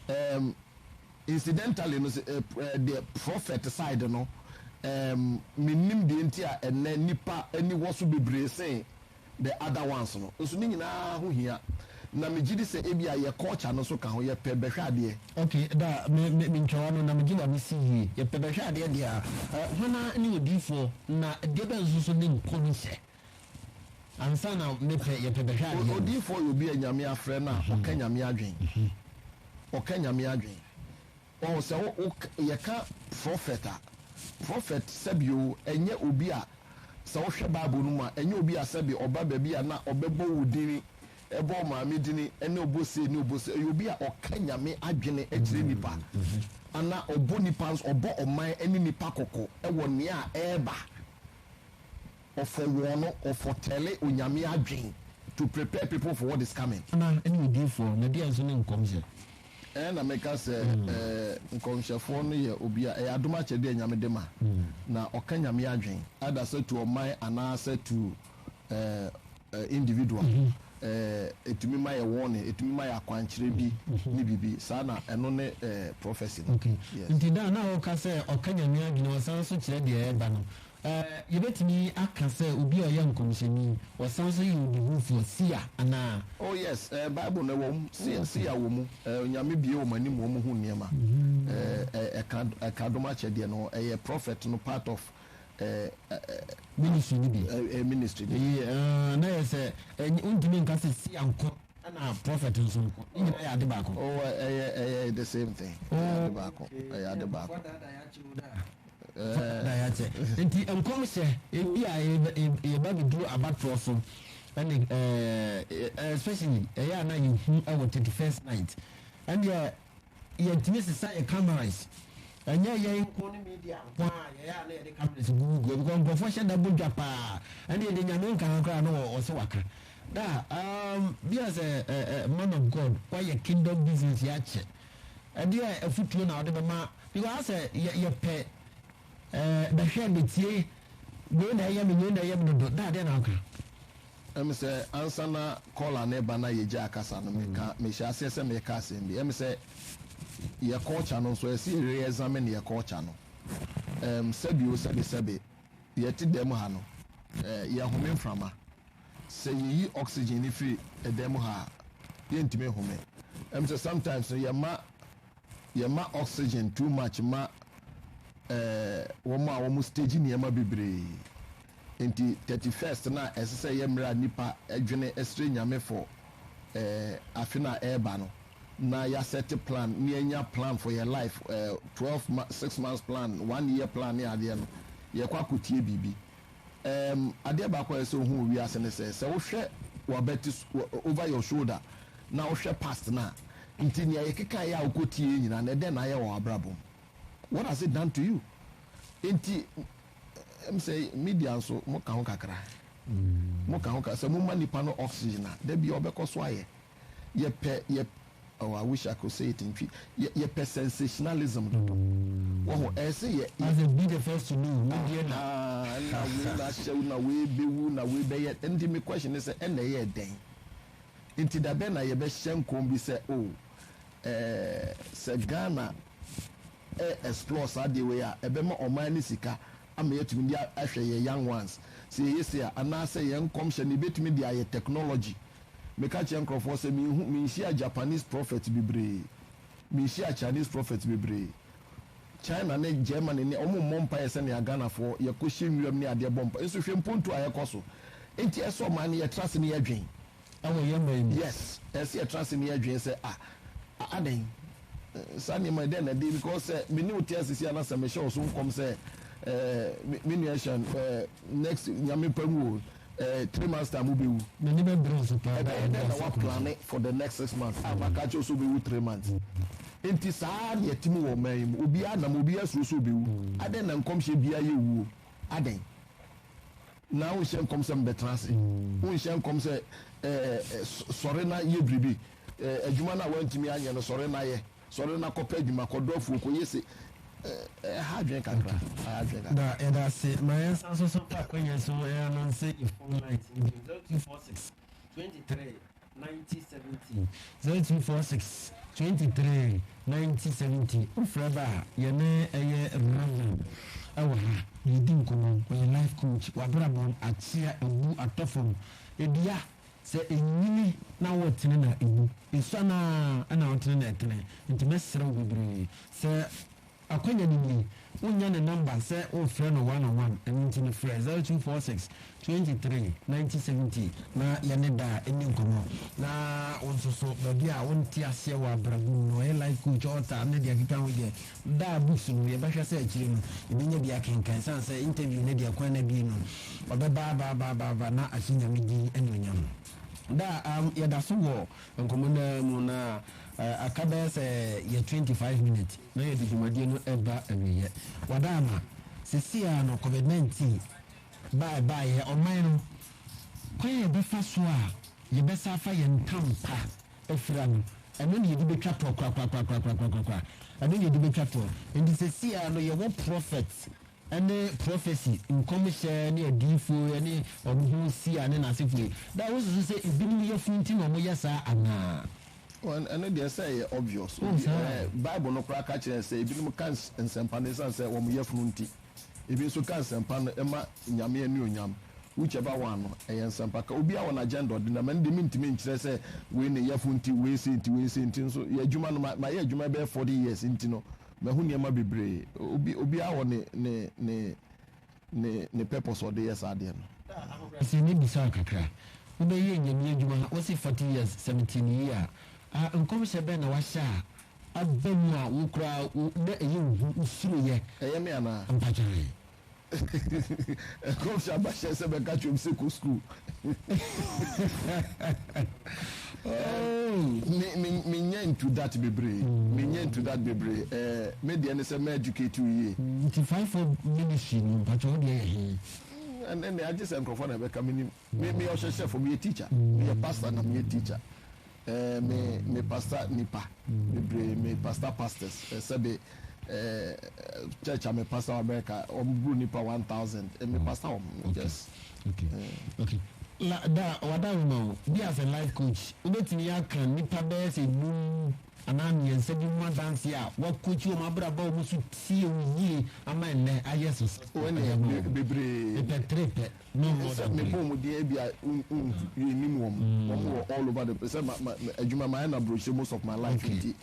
um, incidentally no sɛ eh, eh, the prophet side no um, menim deɛ nti a ɛnɛ nipa ani wɔ so bebree sen the other ones no nso ne nyinaa ho hia na megye di sɛ ebi a yɛ culture no nso ka ho yɛpɛ bɛhwɛ adeɛ ok da me me me ntwawa no na megye na mesi yie yɛpɛ bɛhwɛ adeɛ deɛ a eh, hwana ne odiifoɔ na deɛ bɛn nso so ne nkɔmhyɛ Ansa na me pɛ, yɛ pɛ bɛhwɛ adeɛ no. Odiyifoɔ yɛ obi a Nyame afrɛ no a ɔka Nyame adwen. Ɔka Nyame adwen. Ɔɔ sɛ wo, wo, yɛka prɔfɛt a, prɔfɛt sɛbi o, ɛnyɛ obi a, sɛ wohwɛ Bible no mu a, ɛnyɛ obi a sɛbi ɔba baabi a na ɔbɛbɔ wo dini, ɛbɔ wo maame dini, ɛne ɔbɔ sei ne ɔbɔ sei. Ɛyɛ obi a ɔka Nyame adwene kyerɛ nnipa. Ana ɔbɔ nnipa nso, ɔbɔ ɔman ne nnipa kɔkɔ wɔ nea ɛɛba. Ɔfɔ wɔn no, ɔfɔ tɛle Onyame adwen to prepare people for what is coming. Ana ɛne odiyifoɔ, na deɛn nso ne nkɔmhyɛ? Ɛɛ na meka sɛ ɛɛ nkɔmhyɛfoɔ no yɛ obi a ɛyɛ adom akyɛdeɛ a Nyame de ma, na ɔka Nyame adwen, either sɛ to ɔman anaasɛ to ɛɛ individual, ɛɛ ɛtumi ma yɛ warning, ɛtumi ma yɛ akwankyerɛ bi ne biribi saa, na ɛno ne ɛɛ prophecy no. Okay, nti da a na woka sɛ ɔka Nyame adwen, ɔsan nso kyerɛ deɛ ɛɛba no, Yebetumi aka sɛ obi a ɔyɛ nkɔmhyɛni, ɔsan nso yɛ odihufo, seer, anaa? Oh, yes. Bible no, ɛwom, seer, seer wɔ mu. Onyame bue wɔn anim ma wɔhu nneɛma. Ɛka, ɛka dom akyɛdeɛ no ho. Ɛyɛ prophet no part of Ministry no bi. ministry no bi. Eye, ah, na ɛyɛ sɛ, ɛnyɛ, wontumi nka sɛ seer nko na prophet nso nko. Ne nyinaa yɛ ade baako. Oh, ɛyɛ, ɛyɛ the same thing. Ɛyɛ ade baako. Ɛyɛ ade baako. Fa yɛ akyɛ. Enti nkɔmhyɛ bi a yɛba bɛduru abatoɔ so ne especially ɛyɛ a na yɛhu wɔ thirty first night ɛnneɛ yɛntumi sesa yɛ cameras ɛnyɛ yɛn nko ne media nko a yɛyɛ a na yɛde cameras gugu gugu because nkurɔfoɔ hyɛ da bɔ dwa paa ɛnna yɛde nyame nka ho koraa na wɔsɛ waka da um, bi a sɛ man of God wayɛ kingdom business yɛ akyɛ Ɛdeɛn afotuo na wode bɛma? Because ayɛ sɛ yɛ yɛpɛ ɛɛ bɛhwɛ metie wei na ɛyɛ me wei na ɛyɛ me dodo da adeɛ na woka. Ɛm sɛ ansa na caller no reba na yɛgyaa kasa no meka mehyɛ aseɛ sɛ mereka asɛm bi ɛm sɛ yɛ culture no nso ɛsɛ yɛ re-examine yɛ culture no ɛm sɛbi o sɛbi sɛbi yɛte dɛm ha no ɛɛ yɛhome mframa. Sɛ yeyi oxygen no fi dan mu ha a, yɛrentumi nhome. Ɛne sɛ sometimes no yɛma yɛma oxygen too much ma eh, wɔn a wɔn stage nneɛma bebree. Enti 31st no a ɛsɛ sɛ ɛyɛ mmerɛ a nnipa dwene srɛ Nyame for eh, afe no a ɛreba no, na yɛasɛte plan ne yɛanya plan for yɛn life eh, 12 months, 6 months plan, one year plan ne adeɛ no, yɛrekɔ akɔtie biribi. Ɛɛm, adeɛ baako a ɛsɛ sɛ wohu wɔ wiase ne sɛ, sɛ wohwɛ w'abati so, wɔ, over your shoulder, na wohwɛ past no a, nti nea yɛkekaeɛ a wokɔtieeɛ nyinaa no, ɛdɛn na ayɛ wɔ w'abrabɔ mu? What has it done to you? Nti, ɛm sɛ media nso, moka ho kakra. Moka ho kakra. Sɛ moma nipa no oxygen a, da biara ɔbɛkɔ so ayɛ. Yɛpɛ, yɛp oh, I wish I could say it in Twi, yɛ, yɛpɛ sensationalism dodo. Wɔho? Ɛyɛ sɛ yɛ, yɛ. As a be the first to know, me deɛ na. Ahaa, ɛna wei no ahyɛ wo, na wei bɛwu, na wei bɛyɛ, ɛnti me question ne sɛ, ɛna ɛyɛɛ dɛn? Nti da bɛn na yɛbɛhyɛ nkɔm bi sɛ, oh, eh, sɛ Ghana ɛ, explore saa adeɛ wei a, ɛbɛma ɔman no sika ama yɛatumi de a, ahwɛ yɛ young ones, sɛ yɛyɛ sei a, anaasɛ yɛn nkɔmhyɛ no, yɛbɛtumi de ayɛ technology Meka kyerɛ nkorɔfoɔ sɛ menhu, menhyia Japanese prophet bebree, menhyia Chinese prophet bebree, China ne Germany ne, wɔn mmɔ mpaeɛ sɛnea Ghanafoɔ yɛkɔhyɛ nwiram ne adeɛ bɔ mpaeɛ, nso hwɛ mpontuo a ɛkɔ so. Nti ɛsɛ ɔman no yɛtra ase ne yɛdwen. Ɛwɔ yɛn man mu. Yes, ɛsɛ sɛ yɛtra ase ne yɛdwen sɛ ah, adɛn, saa nneɛma yi dɛn na ɛde, because sɛ me ne wo te ase sei a na sɛ mehyɛ wo so nkɔm sɛ eh, me nua Sean, eh, next, Nyame pɛ mu o, Eh, three months time wobɛwu. M'ani bɛbere wo so paa. Ɛbɛyɛ dɛn na woaplane for the next six months a maka akyerɛ wo sɛ wobɛwu three months? Enti saa ara na ɛte mu wɔ ɔman yi mu. Obiara nam, obiara suro sɛ ɔbɛwu. Adɛn na nkɔmhyɛ biara yɛ owuo? Adɛn na wonhyɛ nkɔm sɛ mebɛtena ase? Wonhyɛ nkɔm sɛ eh, eh, sɔre na yɛ biribi? Eh, adwuma no a woantumi anyɛ no, sɔre na yɛ. Sɔre na kɔpɛ adwuma, kɔdɔ afuo, kɔyɛ sei. Ɛha adwene kakra, ɛha adwene kakra. Da, yɛda ase. Ma yɛnsan nso so mfa akwannya so ananse yɛn phone lines no bio, 0246 23 90 70, 0246 23 90 70. Wofrɛ ba a, yɛne ɛyɛ Reverend wɔ ha, yɛdi nkɔmmɔ. Ɔyɛ life coach, w'abrabɔ akyea, abu atɔ fam. Dua. Sɛ enyini na wɔtene na ewu, esua no ara na ɔtene na ɛtene. Enti mɛsrɛ wo bebree. Sɛ akwanya no nie, wonnya ne nɔmba sɛ worefrɛ no one on one, ɛno nti no frɛ zero two four six, twenty three, ninety seventy na yɛne Daa nni nkɔmmɔ. Na wo nso so, baabi a wonte aseɛ wɔ abrabɔ mu no, ɔyɛ life coach, author ne deɛ ɛkeka ho deɛ, Da a books no yɛbɛhwɛ sɛ akyire no yɛbɛnya bi akenkan ɛsiane sɛ interview no deɛ kwan no abue no ɔbɛba aba aba aba aba na ahyɛ Nyame din anuonyam. Da a yɛdaso wɔ nkɔmmɔ no ara mu na aka bɛyɛ sɛ yɛ twenty five minutes na yɛde dwumadie no reba awieɛ. Wada ama seesei ara no covid nineteen baɛ baeɛ ɔman no kwan a yɛbɛfa so a yɛbɛsa afa yɛn ntam pa afira no, ɛno na yɛde bɛtwa toɔ korakorakorakorakorakorakorakoraa. Ɛno na yɛde bɛtwa toɔ. Enti seesei ara no, yɛwɔ prɔfɛt ne prɔfɛsi, nkɔmhyɛ ne adiyifoɔ yi ne wɔn Hosea ne n'asefoɔ yi. Na wosusu sɛ ebinom yafunu nti na wɔyɛ saa anaa? Well, ɛno deɛ ɛsɛ sɛ ɛyɛ obvious. Oh, Obi, saa. eh, Bible no koraa ka kyerɛ yɛn sɛ ebinom ka ns- nsɛmpa no esiane sɛ wɔn yafunu nti. Ebi nso ka nsɛmpa no ma Nyame anuonyam. Whichever one no, ɛyɛ nsɛmpaka. Obiara wɔ n'agenda a ɔde nam. Ɛno de, mentumi nkyerɛ sɛ wei ne Yɛfo nti, wei sei nti, wei sei nti. Nso yɛ adwuma no, ma mayɛ adwuma yi bɛyɛ forty years nti no, mahu nneɛma bebree. Obi obiara wɔ ne ne ne ne ne purpose a ɔde yɛ saa adeɛ no. Daa ahobrɛase me bisa wo kakra, wobɛyɛ Nyame adwuma wose forty years, seventeen year a, nkɔmhyɛ bɛn na wahyɛ a Aba mu a wo koraa wo na ɛyɛ wo hu wo suro yɛ. Ɛyɛ me anaa? Ampa gyae. Nkɔmhyɛ aba hyɛ sɛ bɛka kyerɛ obi sɛ kɔ sukuu. Me me me nya into that bebree. Me nya into that bebree. Eh, me deɛ ne sɛ mɛ educate wo yie. Nti five four ministry no mpakyɛ wo deɛ yɛ he? ɛnɛ nea agye sɛ nkurɔfoɔ na ɛbɛka menim me meyɛ ɔhyɛhyɛfoɔ meyɛ teacher meyɛ pastor na meyɛ teacher Eh me me pastor nipa bebree me pastor pastors eh, sɛbe eh, church a me pastor wɔ America wɔn buru nipa one thousand eh, me pastor wɔn okay. yes. Okay. Eh. Okay. La da wada wo ma wo bi as a life coach wobɛtumi aka nipa bɛyɛ sɛ num anaa mmiɛnsa bi mu adanse a wakokyi wɔn abrabɔ wɔn so tie wo yie ama nnɛ ayɛ so sɛ wɔn yɛ bebree pɛ tere pɛ. Ɛsɛ sɛ mebɔ wɔn din ebia yɛnnim wɔn, wɔn wɔ all over the place, sɛ adwuma mayɛ no aburokyire most of my life nti,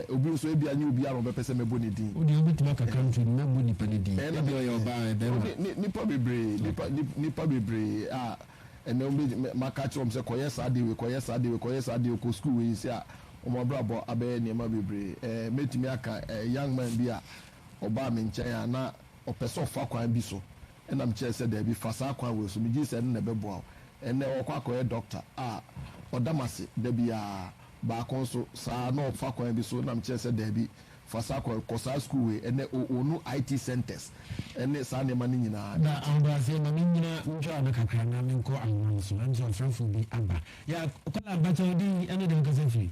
obi nso ebia nyɛ obiara na ɔbɛpɛ sɛ mɛbɔ ne din. Wo deɛ wobɛtumi aka country no, mɛbɔ nipa no din, ebia ɔyɛ ɔbaa ɔyɛ barima. Nnipa bebree, nnipa bebree a ɛnnɛ wobɛtumi, maka akyerɛ wɔn sɛ kɔyɛ saa adeɛ wei, kɔyɛ saa adeɛ wei, kɔyɛ saa adeɛ wei, kɔ sukuu wei nti a wɔn abrabɔ abɛyɛ nneɛma bebree. Mɛtumi aka young man bi a ɔbaa me nkyɛn a na ɔpɛ sɛ ɔfa kwan bi so Ɛna me kyerɛɛ sɛ daabi, fa saa kwan wei so. Me gyee sɛ ɛno na ɛbɛboa wo. Ɛnnɛ ɔkɔ akɔyɛ dɔkta a ɔda m'ase da biara. Baako nso saa na ɔfa kwan bi so. Ɛna me kyerɛɛ sɛ daabi, fa saa kwan, kɔ saa sukuu wei. Ɛnnɛ o ɔnu IT centres ne saa nneɛma no nyinaa. Da ahobrɛaseɛ ma me nnyina ntwaa no kakra na me nkɔ ahoma no so. Ɛm sɛ ɔfrɛfoɔ bi aba. Yɛ akwadaa ba kyɛ wo din ɛne deɛ wo kasa firi.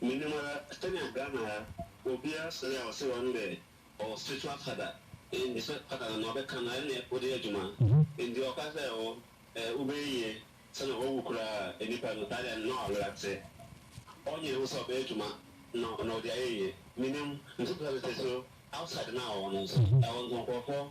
Minim ara sɛnea Ghana ha obiara sere a ɔse one dɛ ɔwɔ spiritual father nd sɛ father no ma ɔbɛka no ɛne ɔdeyɛ adwuma nd ɔka sɛ oh eh wobɛyɛ yie sɛ na wawu koraa a nipa no taa dɛ na ɔyera te ɔnwene ho sɛ ɔbɛyɛ adwuma no na ɔde ayɛ yie. Minim nso sɛ sese outside no a ɔwɔ no nso ɛwɔ nkrɔfoɔ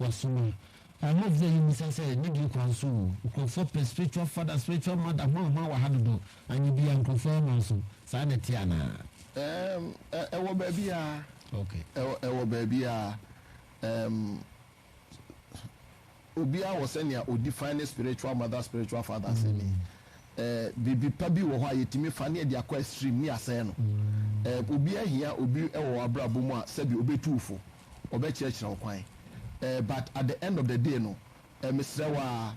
Wɔso no, I hope sɛ yɛmmisa sɛ ne deɛ kwan so o, nkurɔfoɔ pɛ spiritual father, spiritual mother hwan hwan wɔ ha dodo, anyɛ biaa nkurɔfoɔ yɛ mma so, saa na ɛteɛ anaa? Erm ɛwɔ baabiaa, Okay. ɛwɔ baabiaa, erm obiaa wɔ sɛnea ɔ define ne spiritual mother, spiritual father sɛ ni. Erm biribi pa bi wɔ hɔ a yɛtumi fa ne yɛde akɔ extreme ne yɛasɛe no. Erm obiaa hia obi wɔ w'abrabɔ mu a sɛbi ɔbɛtu wo fo. ɔbɛkyerɛkyerɛ wo kwan eh, but at the end of the day no eh, mesrɛ wo aa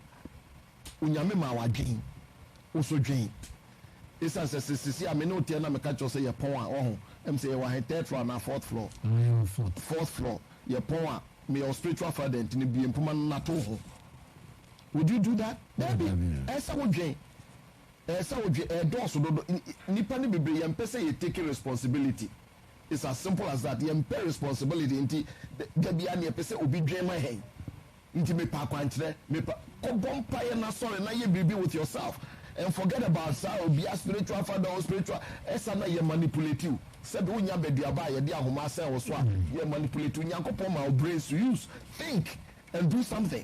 Onyame maa wo adwen, wo so dwen Esiane sɛ sɛ sisi a me ne wo teɛ na meka kyerɛ wo sɛ yɛpɔn a, wahu Ɛm sɛ yɛwɔ ahe, third floor anaa fourth floor? Ah, yɛwɔ fourth. Fourth floor, yɛpɔn a, meyɛ wo spiritual father nti no bue mpoma no na tow ho Would you do that? Daabi, ɛɛ sɛ wo dwen, ɛɛ sɛ wo dwen, ɛɛdɔɔso dodo, nn, nnipa no bebree yɛmpɛ sɛ yɛ take responsibility. It's as simple as that, yɛmpɛ responsibility nti da biara nea yɛpɛ sɛ obi dwen ma yɛn nti mepɛ akwankyerɛ, mepɛ. Kɔbɔ mpaeɛ na sɔre na yɛ biribi with yourself and forget about saa obia spiritual father or spiritual ɛsa na yɛ manipulate wo sɛbi wonya baduaba a yɛde ahoma asɛn wo so a yɛ manipulate wo Nyankopɔn ma wo brain so use think and do something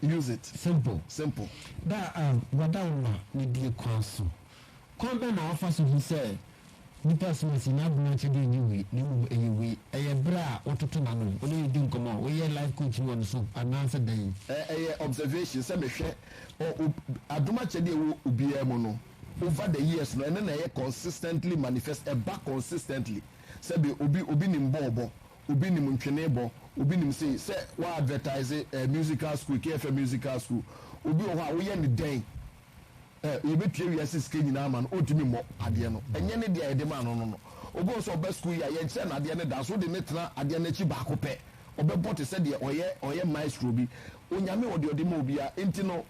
Use it simple, simple. Da a wɔda wo ma no die kwan so. Kwan bɛn na wofa so hu sɛ nipa som asi n'adwene akyɛ dɛ ɛnyɛ wei na mmom ɛyɛ wei? Ɛyɛ bere a wototo n'ano, wo ne no di nkɔmmɔ, woyɛ life coaching wɔ ne so, anaasɛ dɛn? Ɛyɛ observation, sɛ mehwɛ adom akyɛdeɛ a ɛwɔ obiara mu no over the years no, ɛno na ɛyɛ consistently manifest, ɛba consistently. Sɛdeɛ obi, obi nim bɔɔlbɔ, Obi nim ntwene bɔ, obi nim sei, sɛ wa advertise eh, musical school, KFM musical school. Obi wɔ hɔ a woyɛ ne dɛn, eh, yɛbɛtua wiase sika nyinaa ama no, ɔntumi mmɔ adeɛ no. Ɛnyɛ ne deɛ a yɛde maa no no no. Obi wɔ hɔ sɛ ɔba school yi a, yɛnkyerɛ no adeɛ no da, nso wode no tena adeɛ no akyi baako pɛ, ɔbɛbɔ te sɛ deɛ ɔyɛ, ɔyɛ maestro bi. Onyame wɔ deɛ ɔde ma obiara, enti no,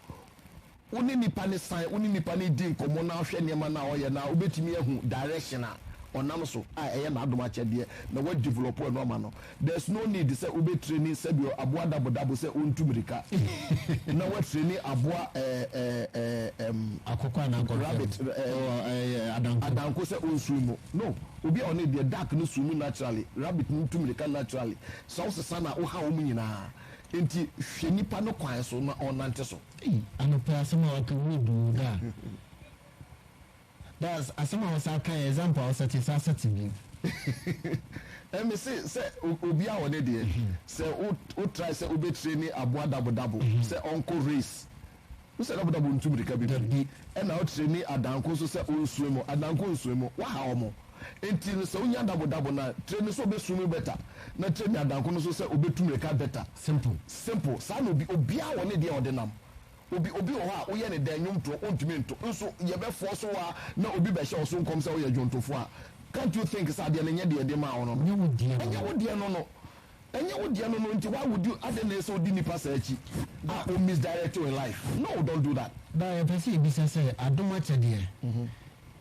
Wo ne nipa no san, wo ne nipa no redi nkɔmmɔ na wohwɛ nneɛma no a ɔyɛ no a, wobɛtumi ahu direction a ɔnam so a ɛyɛ n'adom akyɛdeɛ na wo develop ɛno ama no. There's no need sɛ wobɛ traini sɛdeɛ aboa dabo dabo sɛ ɔntu mirika na wo traini aboa ɛɛɛɛɛm Akokɔ anaa kɔmfɛm? Rabbit ɛɛm Oh, ɛyɛ adanko. adanko sɛ ɔnswim mu. No, obi a ɔne deɛ duck no swim mu naturally, rabbit no tu mirika naturally, sɛ wosesa no a woha wɔn nyinaa. Enti hwɛ nipa no kwan so na ɔnnante so. Ei anɔpa yi asɛm a waka mu edu oo daa daa asɛm a wosan ka yɛ example a wosɛte san sɛte bio. Ɛɛ me se sɛ obiara wɔ ne deɛ sɛ wo wo try sɛ wo bɛ traini aboa dabo dabo sɛ ɔnkɔ race wo sɛ dabo dabo ntu mirika bebree ɛna wo traini adanko nso sɛ ɔnsua mu adanko nsua mu waha wɔn Enti no sɛ onya dabodabo na tire no sɛ obesu no better na tire nyadanko no so sɛ obetu mmirika better. Simple. Simple. Saa na obi obiara wɔ ne deɛ a ɔde nam. Obi obi wɔ hɔ a woyɛ no dɛn nnwom toɔ ontumi nto nso yɛbɛ force wo a na obi bɛhyɛ wo so nkɔm sɛ woyɛ dwontofoɔ a can't you think sɛ adeɛ no nyɛ deɛ yɛde maa wo no no Ɛnyɛ wo deɛ no ɛnyɛ no. wo deɛ no no ɛnyɛ wo deɛ no no nti why would you adɛn na ɛsɛ odi nnipa saa akyi a o misdirect wo in life no don't do that. Ba yɛpɛ sɛ yɛbisa sɛ adom akyɛdeɛ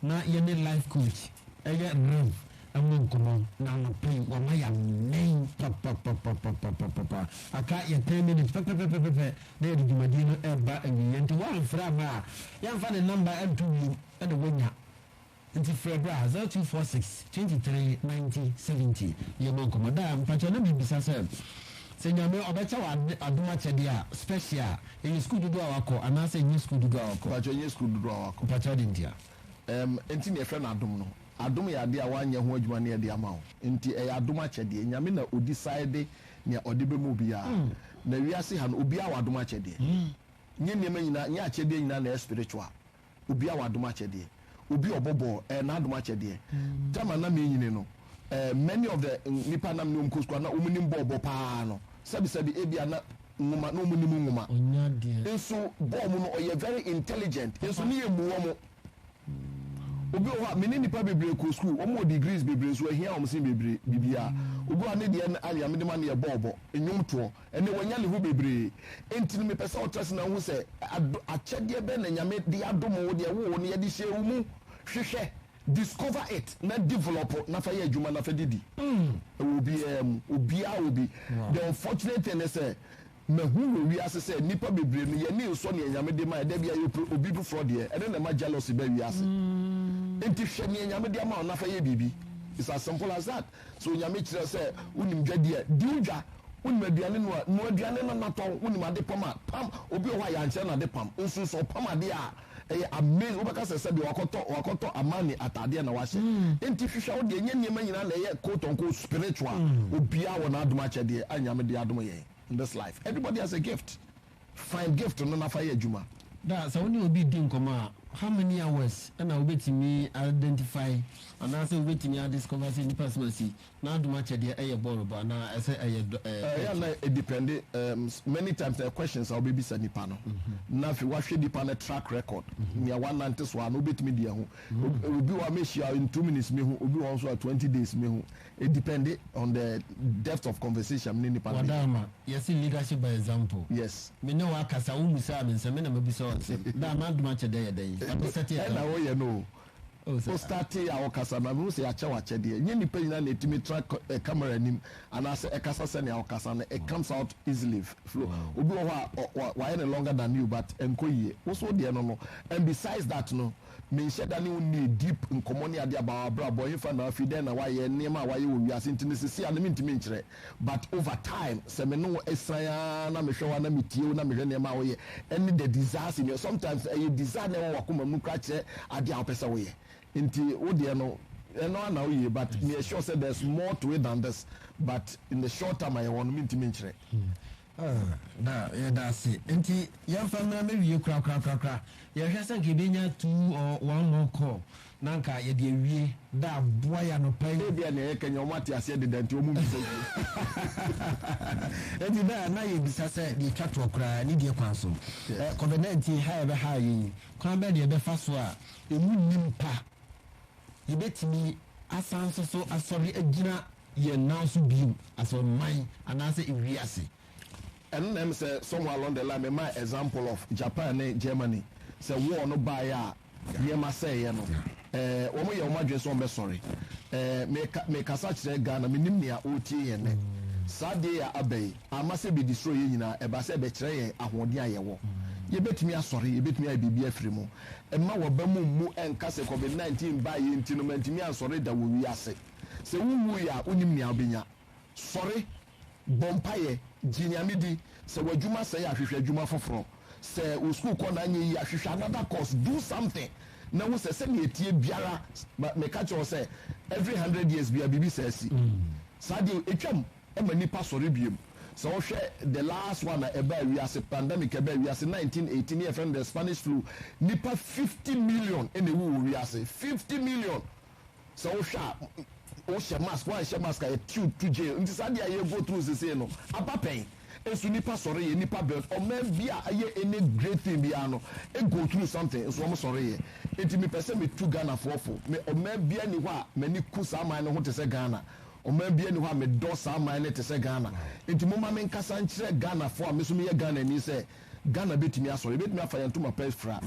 Na yɛne life coach yɛ mmerɛw mu nkɔmmɔ, na anɔpa yi wama yɛammɛn pɔpɔpɔpɔpɔpɔpɔpɔ. Aka yɛ ten minutes pɛpɛpɛpɛpɛ na yɛde dwumadie no reba awieeɛ, nti woamfrɛ amma a, yɛmfa ne number nto wim na woanya. Nti frɛ bra, zero two four six, twenty three, ninety, seventy, yɛmmɔ nkɔmmɔ. Daa, mpakyɛ na mebisa sɛ. Sɛ Nyame ɔbɛkyɛ wo ade adom akyɛdeɛ a special a, ɛyɛ sukuu dodoɔ a wakɔ anaasɛ ɛnyɛ sukuu dodoɔ a wakɔ? Mpakyɛ, ɛnyɛ sukuu dodoɔ a wakɔ. Mpakyɛ, adɛn ntia? Ɛm, ɛnti na yɛfrɛ no adom no. Adom yɛ adeɛ a woanyɛ ho adwuma na yɛde ama wo. Ɛnti ɛyɛ adom akyɛdeɛ. Nyame na ɔdisayede nea ɔde bɛma obiara. Na wiase ha no, obiara wɔ adom akyɛdeɛ. Nyɛ nneɛma nyinaa, nyɛ akyɛdeɛ nyinaa na ɛyɛ spiritual. Obi a wadom akyɛ deɛ. Obi a ɔbɔ bɔɔl, ɛyɛ n'adom akyɛ deɛ. Time a na menyini no, eh, many of the nnipa a na me ne wɔn kɔ sukuu a na wɔnim bɔɔl bɔ pa ara no, sɛbisɛbi, ebia na nwoma, na wɔnim nwoma. Ɔnya deɛ. Nso bɔɔl mu no, ɔyɛ very intelligent. Papa. Nso ne yɛ mmu wɔn. Obi wɔ hɔ a, me ne nnipa bebree kɔ sukuu, wɔn wɔ degrees bebree nso, ahia wɔn sen bebree, biribiara. Obi wɔ hɔ a, ne deɛ no, anwea mede ma no yɛ bɔɔl bɔ, nnwom toɔ. Ɛnnɛ, wanya ne ho bebree. Enti no, mepɛ sɛ wotra ase na wuhu sɛ ado, akyɛdeɛ bɛn na Nyame de adom wo, deɛ wowɔ no, yɛde hyɛɛ wo mu. Hwehwɛ, discover it, na develop, na fa yɛ adwuma, na fa de di. Mm, ɛwɔ obiara mu. Obiara wɔ bi. The unfortunate thing ne sɛ, mahu wɔ wiase sɛ, nnipa bebree no, yɛn ani nsɔ nea Nyame de ma yɛn. Da biara yɛpere obi foforɔ deɛ. Ɛno na ɛma jealousy ba wiase. Enti hwɛ nea Nyame de ama wo na fa yɛ biribi. It's as simple as that. Sɛ Onyame kyerɛ sɛ wonim dwadi a, di wo dwa, wonim aduane noa a, noa aduane no na tɔn, wonim ade pam a, pam, obi wɔ hɔ a yɛankyerɛ no ade pam nso, sɛ ɔpam adeɛ a, ɛyɛ amazing, wobɛka sɛ sɛdeɛ wakɔtɔ, wakɔtɔ Armani ataadeɛ na wahyɛ. Enti hwehwɛ wo deɛ, ɛnyɛ nneɛma nyinaa na ɛyɛ quote on quote spiritual, obiara wɔ n'adom akyɛdeɛ a Nyame de adom yɛn in this life, everybody has a gift. Find gift no na fa yɛ adwuma. Da, Sɛ wo ne obi redi nkɔmmɔ a, how many hours na wubetumi a identify anaasɛ wubetumi a discover sɛ nipa sima si n'adom akyɛ deɛ ɛyɛ bɔɔlo bɔ anaa ɛsɛ ɛyɛ dɔ ɛɛ Ɛyɛ a na hockey? edepɛnde, ɛɛm, many times na ɛyɛ questions a wobebisa nipa no na afei woahwɛ nipa no track record, nea wanante so a na wobetumi de ahu. Obi wɔ hɔ a mehyia in two minutes mehu, obi wɔ hɔ nso a twenty days mehu. E depende on the depth of conversation me ne nipa no bɛ yɛ. Wadama, yɛse leadership by example. Yes. Me ne wo akasa, wo mmusaa me nsɛm, me na mabisa wo asɛm. Daa m'adom akyɛ dɛ yɛ dɛn? Yɛabe set example. Ɛna wo yɛ no o. Wo sɛ. Wo startee a wo kasa no, mehu sɛ yɛakyɛ wo akyɛdeɛ. Nyɛ nipa nyinaa na ɛtumi tra camera anim anaasɛ ɛkasa sɛnea wo kasa no, it comes out easily, flow. Obi wɔ hɔ a, wayɛ no longer than you but ɛnkɔ yie. Wo so wo deɛ no no. And besides that no, Menhyɛ da ne wo nnii deep nkɔmmɔ ne adeɛ about w'abrabɔ, hefa na wafi, dɛn na wayɛ, nneɛma a wayɛ wɔ wiase nti no sesei a no mentumi nkyerɛ but over time sɛ me ne wo asian aa na mehwɛ wo a na metie wo na mehwɛ nneɛma a woyɛ ɛne the desires in your sometimes no ɛyɛ desire na ɛwɔ w'akoma mu koraa kyerɛ adeɛ a wopɛ sɛ woyɛ nti wo deɛ no ɛno ara na woyɛ but meyɛ sure sɛ there's more to it than this but in the short term a yɛwɔ no mentumi nkyerɛ. Oh, da, yɛda ase. Enti yɛmfa mmra mɛwie korakorakorakora. Yɛhwɛ sɛ nka yɛbɛnya two or one more call na nka yɛde awie. Da, boa yɛn anɔpa yi. Ebia nea yɛka nyinaa wɔate aseɛ deda nti wɔmmisa bio. Enti da, na yɛbisa sɛ deɛ ɛtwa toɔ koraa ne deɛ kwan so Covid-19 ha a ɛbɛhaa yɛn yi, kwan bɛn na yɛbɛfa so a ɛmu nni mpa Yebetumi asan nso so asɔre agyina yɛn nan so bio, asɔreman anaasɛ wiase. Ɛno na ɛm sɛ somewhere along the line me maa example of Japan ne Germany sɛ war no baeɛ a nneɛma sɛeɛ no ɛɛ wɔn yɛ wɔn adwene sɛ wɔn bɛsɔre ɛɛ me ka me kasa kyerɛ Ghana me nim nea ɔretie yɛn nɛ saa adeɛ yɛ aba yi ama sɛ ɛbɛ destroy yɛn nyinaa ɛba sɛ ɛbɛkyerɛ yɛn ahoɔden a yɛwɔ yɛbɛtumi asɔre yɛbɛtumi ayɛ biribi afiri mu. Mma w'abam mmu nka sɛ Covid 19 baeɛ nti no mantumi ansɔre da wɔ wiase. Sɛ wonwuui a wonnim nea wobɛnya. Sɔre, bɔ mpaeɛ, gye Nyame di. Sɛ w'adwuma sɛe a hwehwɛ adwuma foforɔ. Sɛ wo sukuu kɔ no anyɛ yie a hwehwɛ another course, do something na hu sɛ sɛdeɛ ɛteɛ biara, meka kyerɛ wo sɛ every hundred years biara biribi saa si. Saa deɛ ɛtwam. ma nnipa sɔre biom. Sɛ wo hwɛ the last one a ɛbaa wiase, pandemic a ɛbaa wiase nineteen eighteen ne yɛfrɛ no the Spanish flu, nnipa fifty million na ɛwu wɔ wiase, fifty million, sɛ wo hwɛ a wo hyɛ mask, wo anhyɛ mask a yɛte wo to jail, nti saa adeɛ a yɛ go through sesei no aba pɛn, nso nnipa sɔre yɛ, nnipa build, ɔman bi a ayɛ any great thing biara no go through something nso wɔn sɔre yɛ, nti me pɛ sɛ me tu Ghanafoɔ fo, me ɔman biara nni hɔ a m'ani ku saa man no ho te sɛ Ghana, Ɔman biara nni hɔ a medɔ saa man no te sɛ Ghana. Enti momma menkasa nkyerɛ Ghanafoɔ a me nso meyɛ Ghanani sɛ, Ghana bɛtumi asɔre. Yɛbɛtumi afa yɛn ntoma pa afira.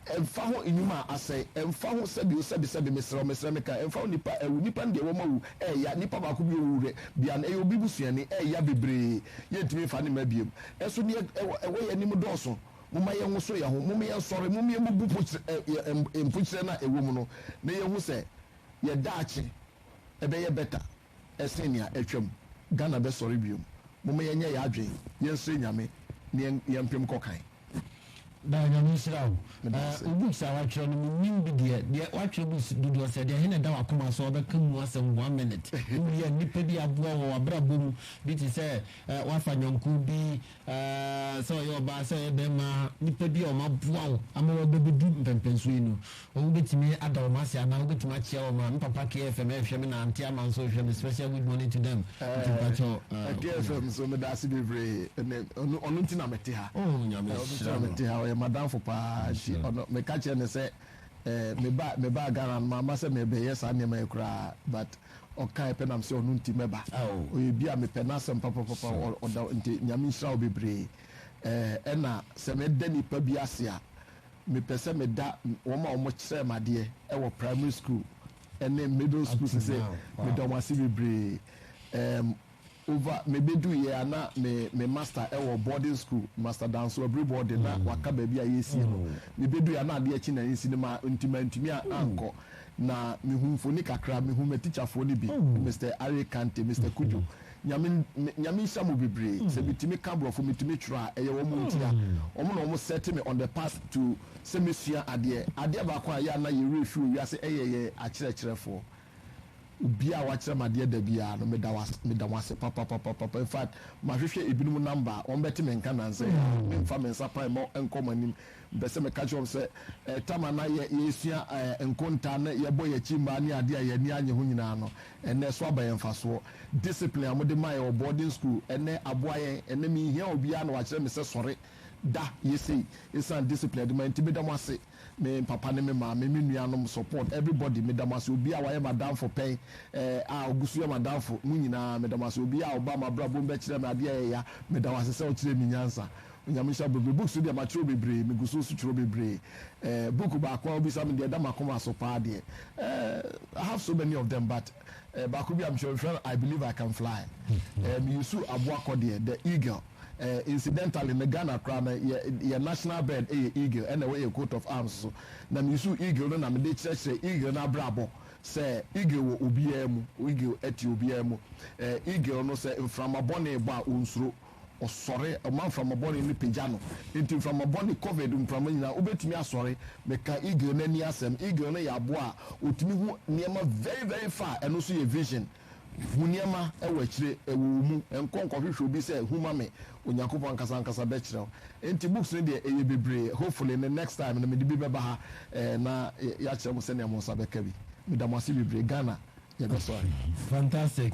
Ɛmfa ho nnwuma a asɛe, ɛmfa ho sɛbi o sɛbi sɛbi, mesrɛ wo, mesrɛ me ka, ɛmfa ho nnipa a awu, nnipa no deɛ wɔn awu, ɛɛya, nnipa baako bi ɔwu hwɛ, bia no ɛyɛ obi busuani, ɛɛya bebree, yɛntumi mfa ne mma biom. Nanso deɛ ɛwɔ ɛwɔ yɛn anim dɔɔso. Momma yɛnwoso yɛn ho, mom yɛnsɔre, mom yɛmmubu pokyerɛ ɛ ɛ mpokyerɛ no a ɛwɔ mu no na yɛnhu sɛ yɛn daakye ɛbɛyɛ better ɛsen nea atwam. Ghana bɛsɔre biom. Momma yɛnyɛ yɛ adwen, yɛnsrɛ Nyame ne yɛmpem nkɔ kan. Daa Nyame nhyira wo. Medase. Wo books a watwerɛ no mennim bi deɛ. Deɛ watwerɛ books dodoɔ sɛɛ deɛ ɛhe na ɛda wakoma so a wobɛka mu asɛm one minute? Wowie a nnipa bi aboa wɔ wabrabɔ mu bi te sɛ wafa nyɔnko bi Ahh sɛ ɔyɛ ɔbaa sɛ ɔyɛ bɛɛma nipa bi a wɔn aboa wo ama wo abɛbɛdu mpɛnpɛnsoɔ yi no wɔn wo bɛtumi ada wɔn ase anaa wo bɛtumi akyea wɔn a me papa KFM ɛɛhwɛ me na Aunty Ama nso rehwɛ me special good morning to them nti mpakyɛ ahh KFM nso meda ase bebree ɛnɛ ɔno ɔno nti na me te ha oh Nyame ɔno nti nhyira na me no te ha ɔyɛ m'adamfo paa nti nhyira ɔno me ka kyerɛ no sɛ ɛɛ me ba me baa Ghana no mamma sɛ mɛbɛyɛ saa nneɛma yi koraa but Ɔkae pɛ nam sɛ ɔno nti mɛba ɔyɛ bi a mepɛ n'asɛm papapapa ɔda nti nyame nhyira wo bebree ɛna sɛ mɛda nipa bi ase a mepɛ sɛ meda wɔn a wɔn kyerɛ madeɛ ɛwɔ primary school ɛne middle school sɛ sɛ meda wɔn ase bebree ɛɛm. Ova, Mebeduiɛ a na me me master wɔ boarding school, Master Danso Abiribɔ de na waka baabi a yɛresie no. Mebeduiɛ a na adeɛ akyi na nsi no ma nti mantumi a ankɔ. Na mehu mfoni kakra, mehu m'atikyafoɔ no bi, Mister Arye Kante, Mister Cudjo. Nyame me Nyame nhyira mo bebree. Sɛ metumi ka Borɔfo, metumi twerɛ a, ɛyɛ wɔn nti a. Wɔn na wɔn set me on the path to sɛ mɛsua adeɛ. Adeɛ baako a ɛyɛ a na yɛn werɛ fi wɔ wiase yɛ yɛn akyerɛkyerɛfoɔ. Obiara a wakyerɛ me adeɛ da biara no, meda wase, meda mo ase papapapapa. In fact, mahwehwɛ ebinom number a wɔbɛte me nka nnansa yi a memfa me nsa pan mmɔ nkɔ mo anim. Mepɛ sɛ meka kyerɛ wɔn sɛ, eh, tam a na yɛ, yɛresua eh, nkontaa ne yɛbɔ yɛn akyi mmaa ne adeɛ a yɛn ani annye ho nyinaa no, ɛnnɛ ɛso aba yɛn mfasoɔ. Discipline a mode ma yɛn wɔ boarding school, ɛnnɛ aboa yɛn. Ɛnnɛ menhia obiara na wakyerɛ me sɛ sɔre, da, yɛ sei. Esiane discipline a yɛde ma yɛn nti, meda mo ase. Me papa ne me maame, me nuanom, support, everybody, meda mo ase. Obiara a wayɛ m'adamfo pɛn, eh, a ogu so yɛ m'adamfo, mo nyinaa, meda mo ase. Obiara a ɔbaa m'abrabɔ mu bɛkyerɛ me ade a ɛyɛ ya, meda wo ase sɛ wokyerɛɛ me nyansa. Onyame nhyira wo bebree. Books deɛ, makyerɛw bebree. Megu so nso kyerɛw bebree. Eh, book baako a wobisa me deɛ ɛda m'akoma so paa deɛ, eh, I have so many of them, but, eh, baako bi a mekyerɛw, mefrɛ no I Believe I Can Fly. Eh, me use aboa kɔ deɛ, The Eagle. Eh, incidentally no Ghana koraa no yɛ yɛ national bird yɛ eagle ɛna ɛwɔ yɛ coat of arms so. Na me su eagle no na me de kyerɛkyerɛ eagle no abrabɔ sɛ eagle wɔ obiara mu, eagle ɛte obiara mu. Eh, eagle no sɛ mframa bɔne bɔ a onsuro, ɔsɔre, ɔma mframa bɔne no pagya no. Nti mframa bɔne, covid mframa nyinaa wobɛtumi asɔre. Me ka eagle no ani asɛm. Eagle no yɛ aboa a otumi hu nneɛma very very far, ɛno nso yɛ vision. Hu nneɛma wɔ akyire, wɔ wo mu. Nkɔ nkɔhwehwɛ obi sɛ hu ma me, Onyankopɔn ankasa ankasa bɛkyerɛ wo. Enti books no deɛ ɛyɛ bebree, hopefully ne next time no mede bi bɛba ha na yɛakyerɛ mo sɛnea mo nsa bɛka bi. Meda mo ase bebree. Ghana yɛbɛsɔre. Fantastic.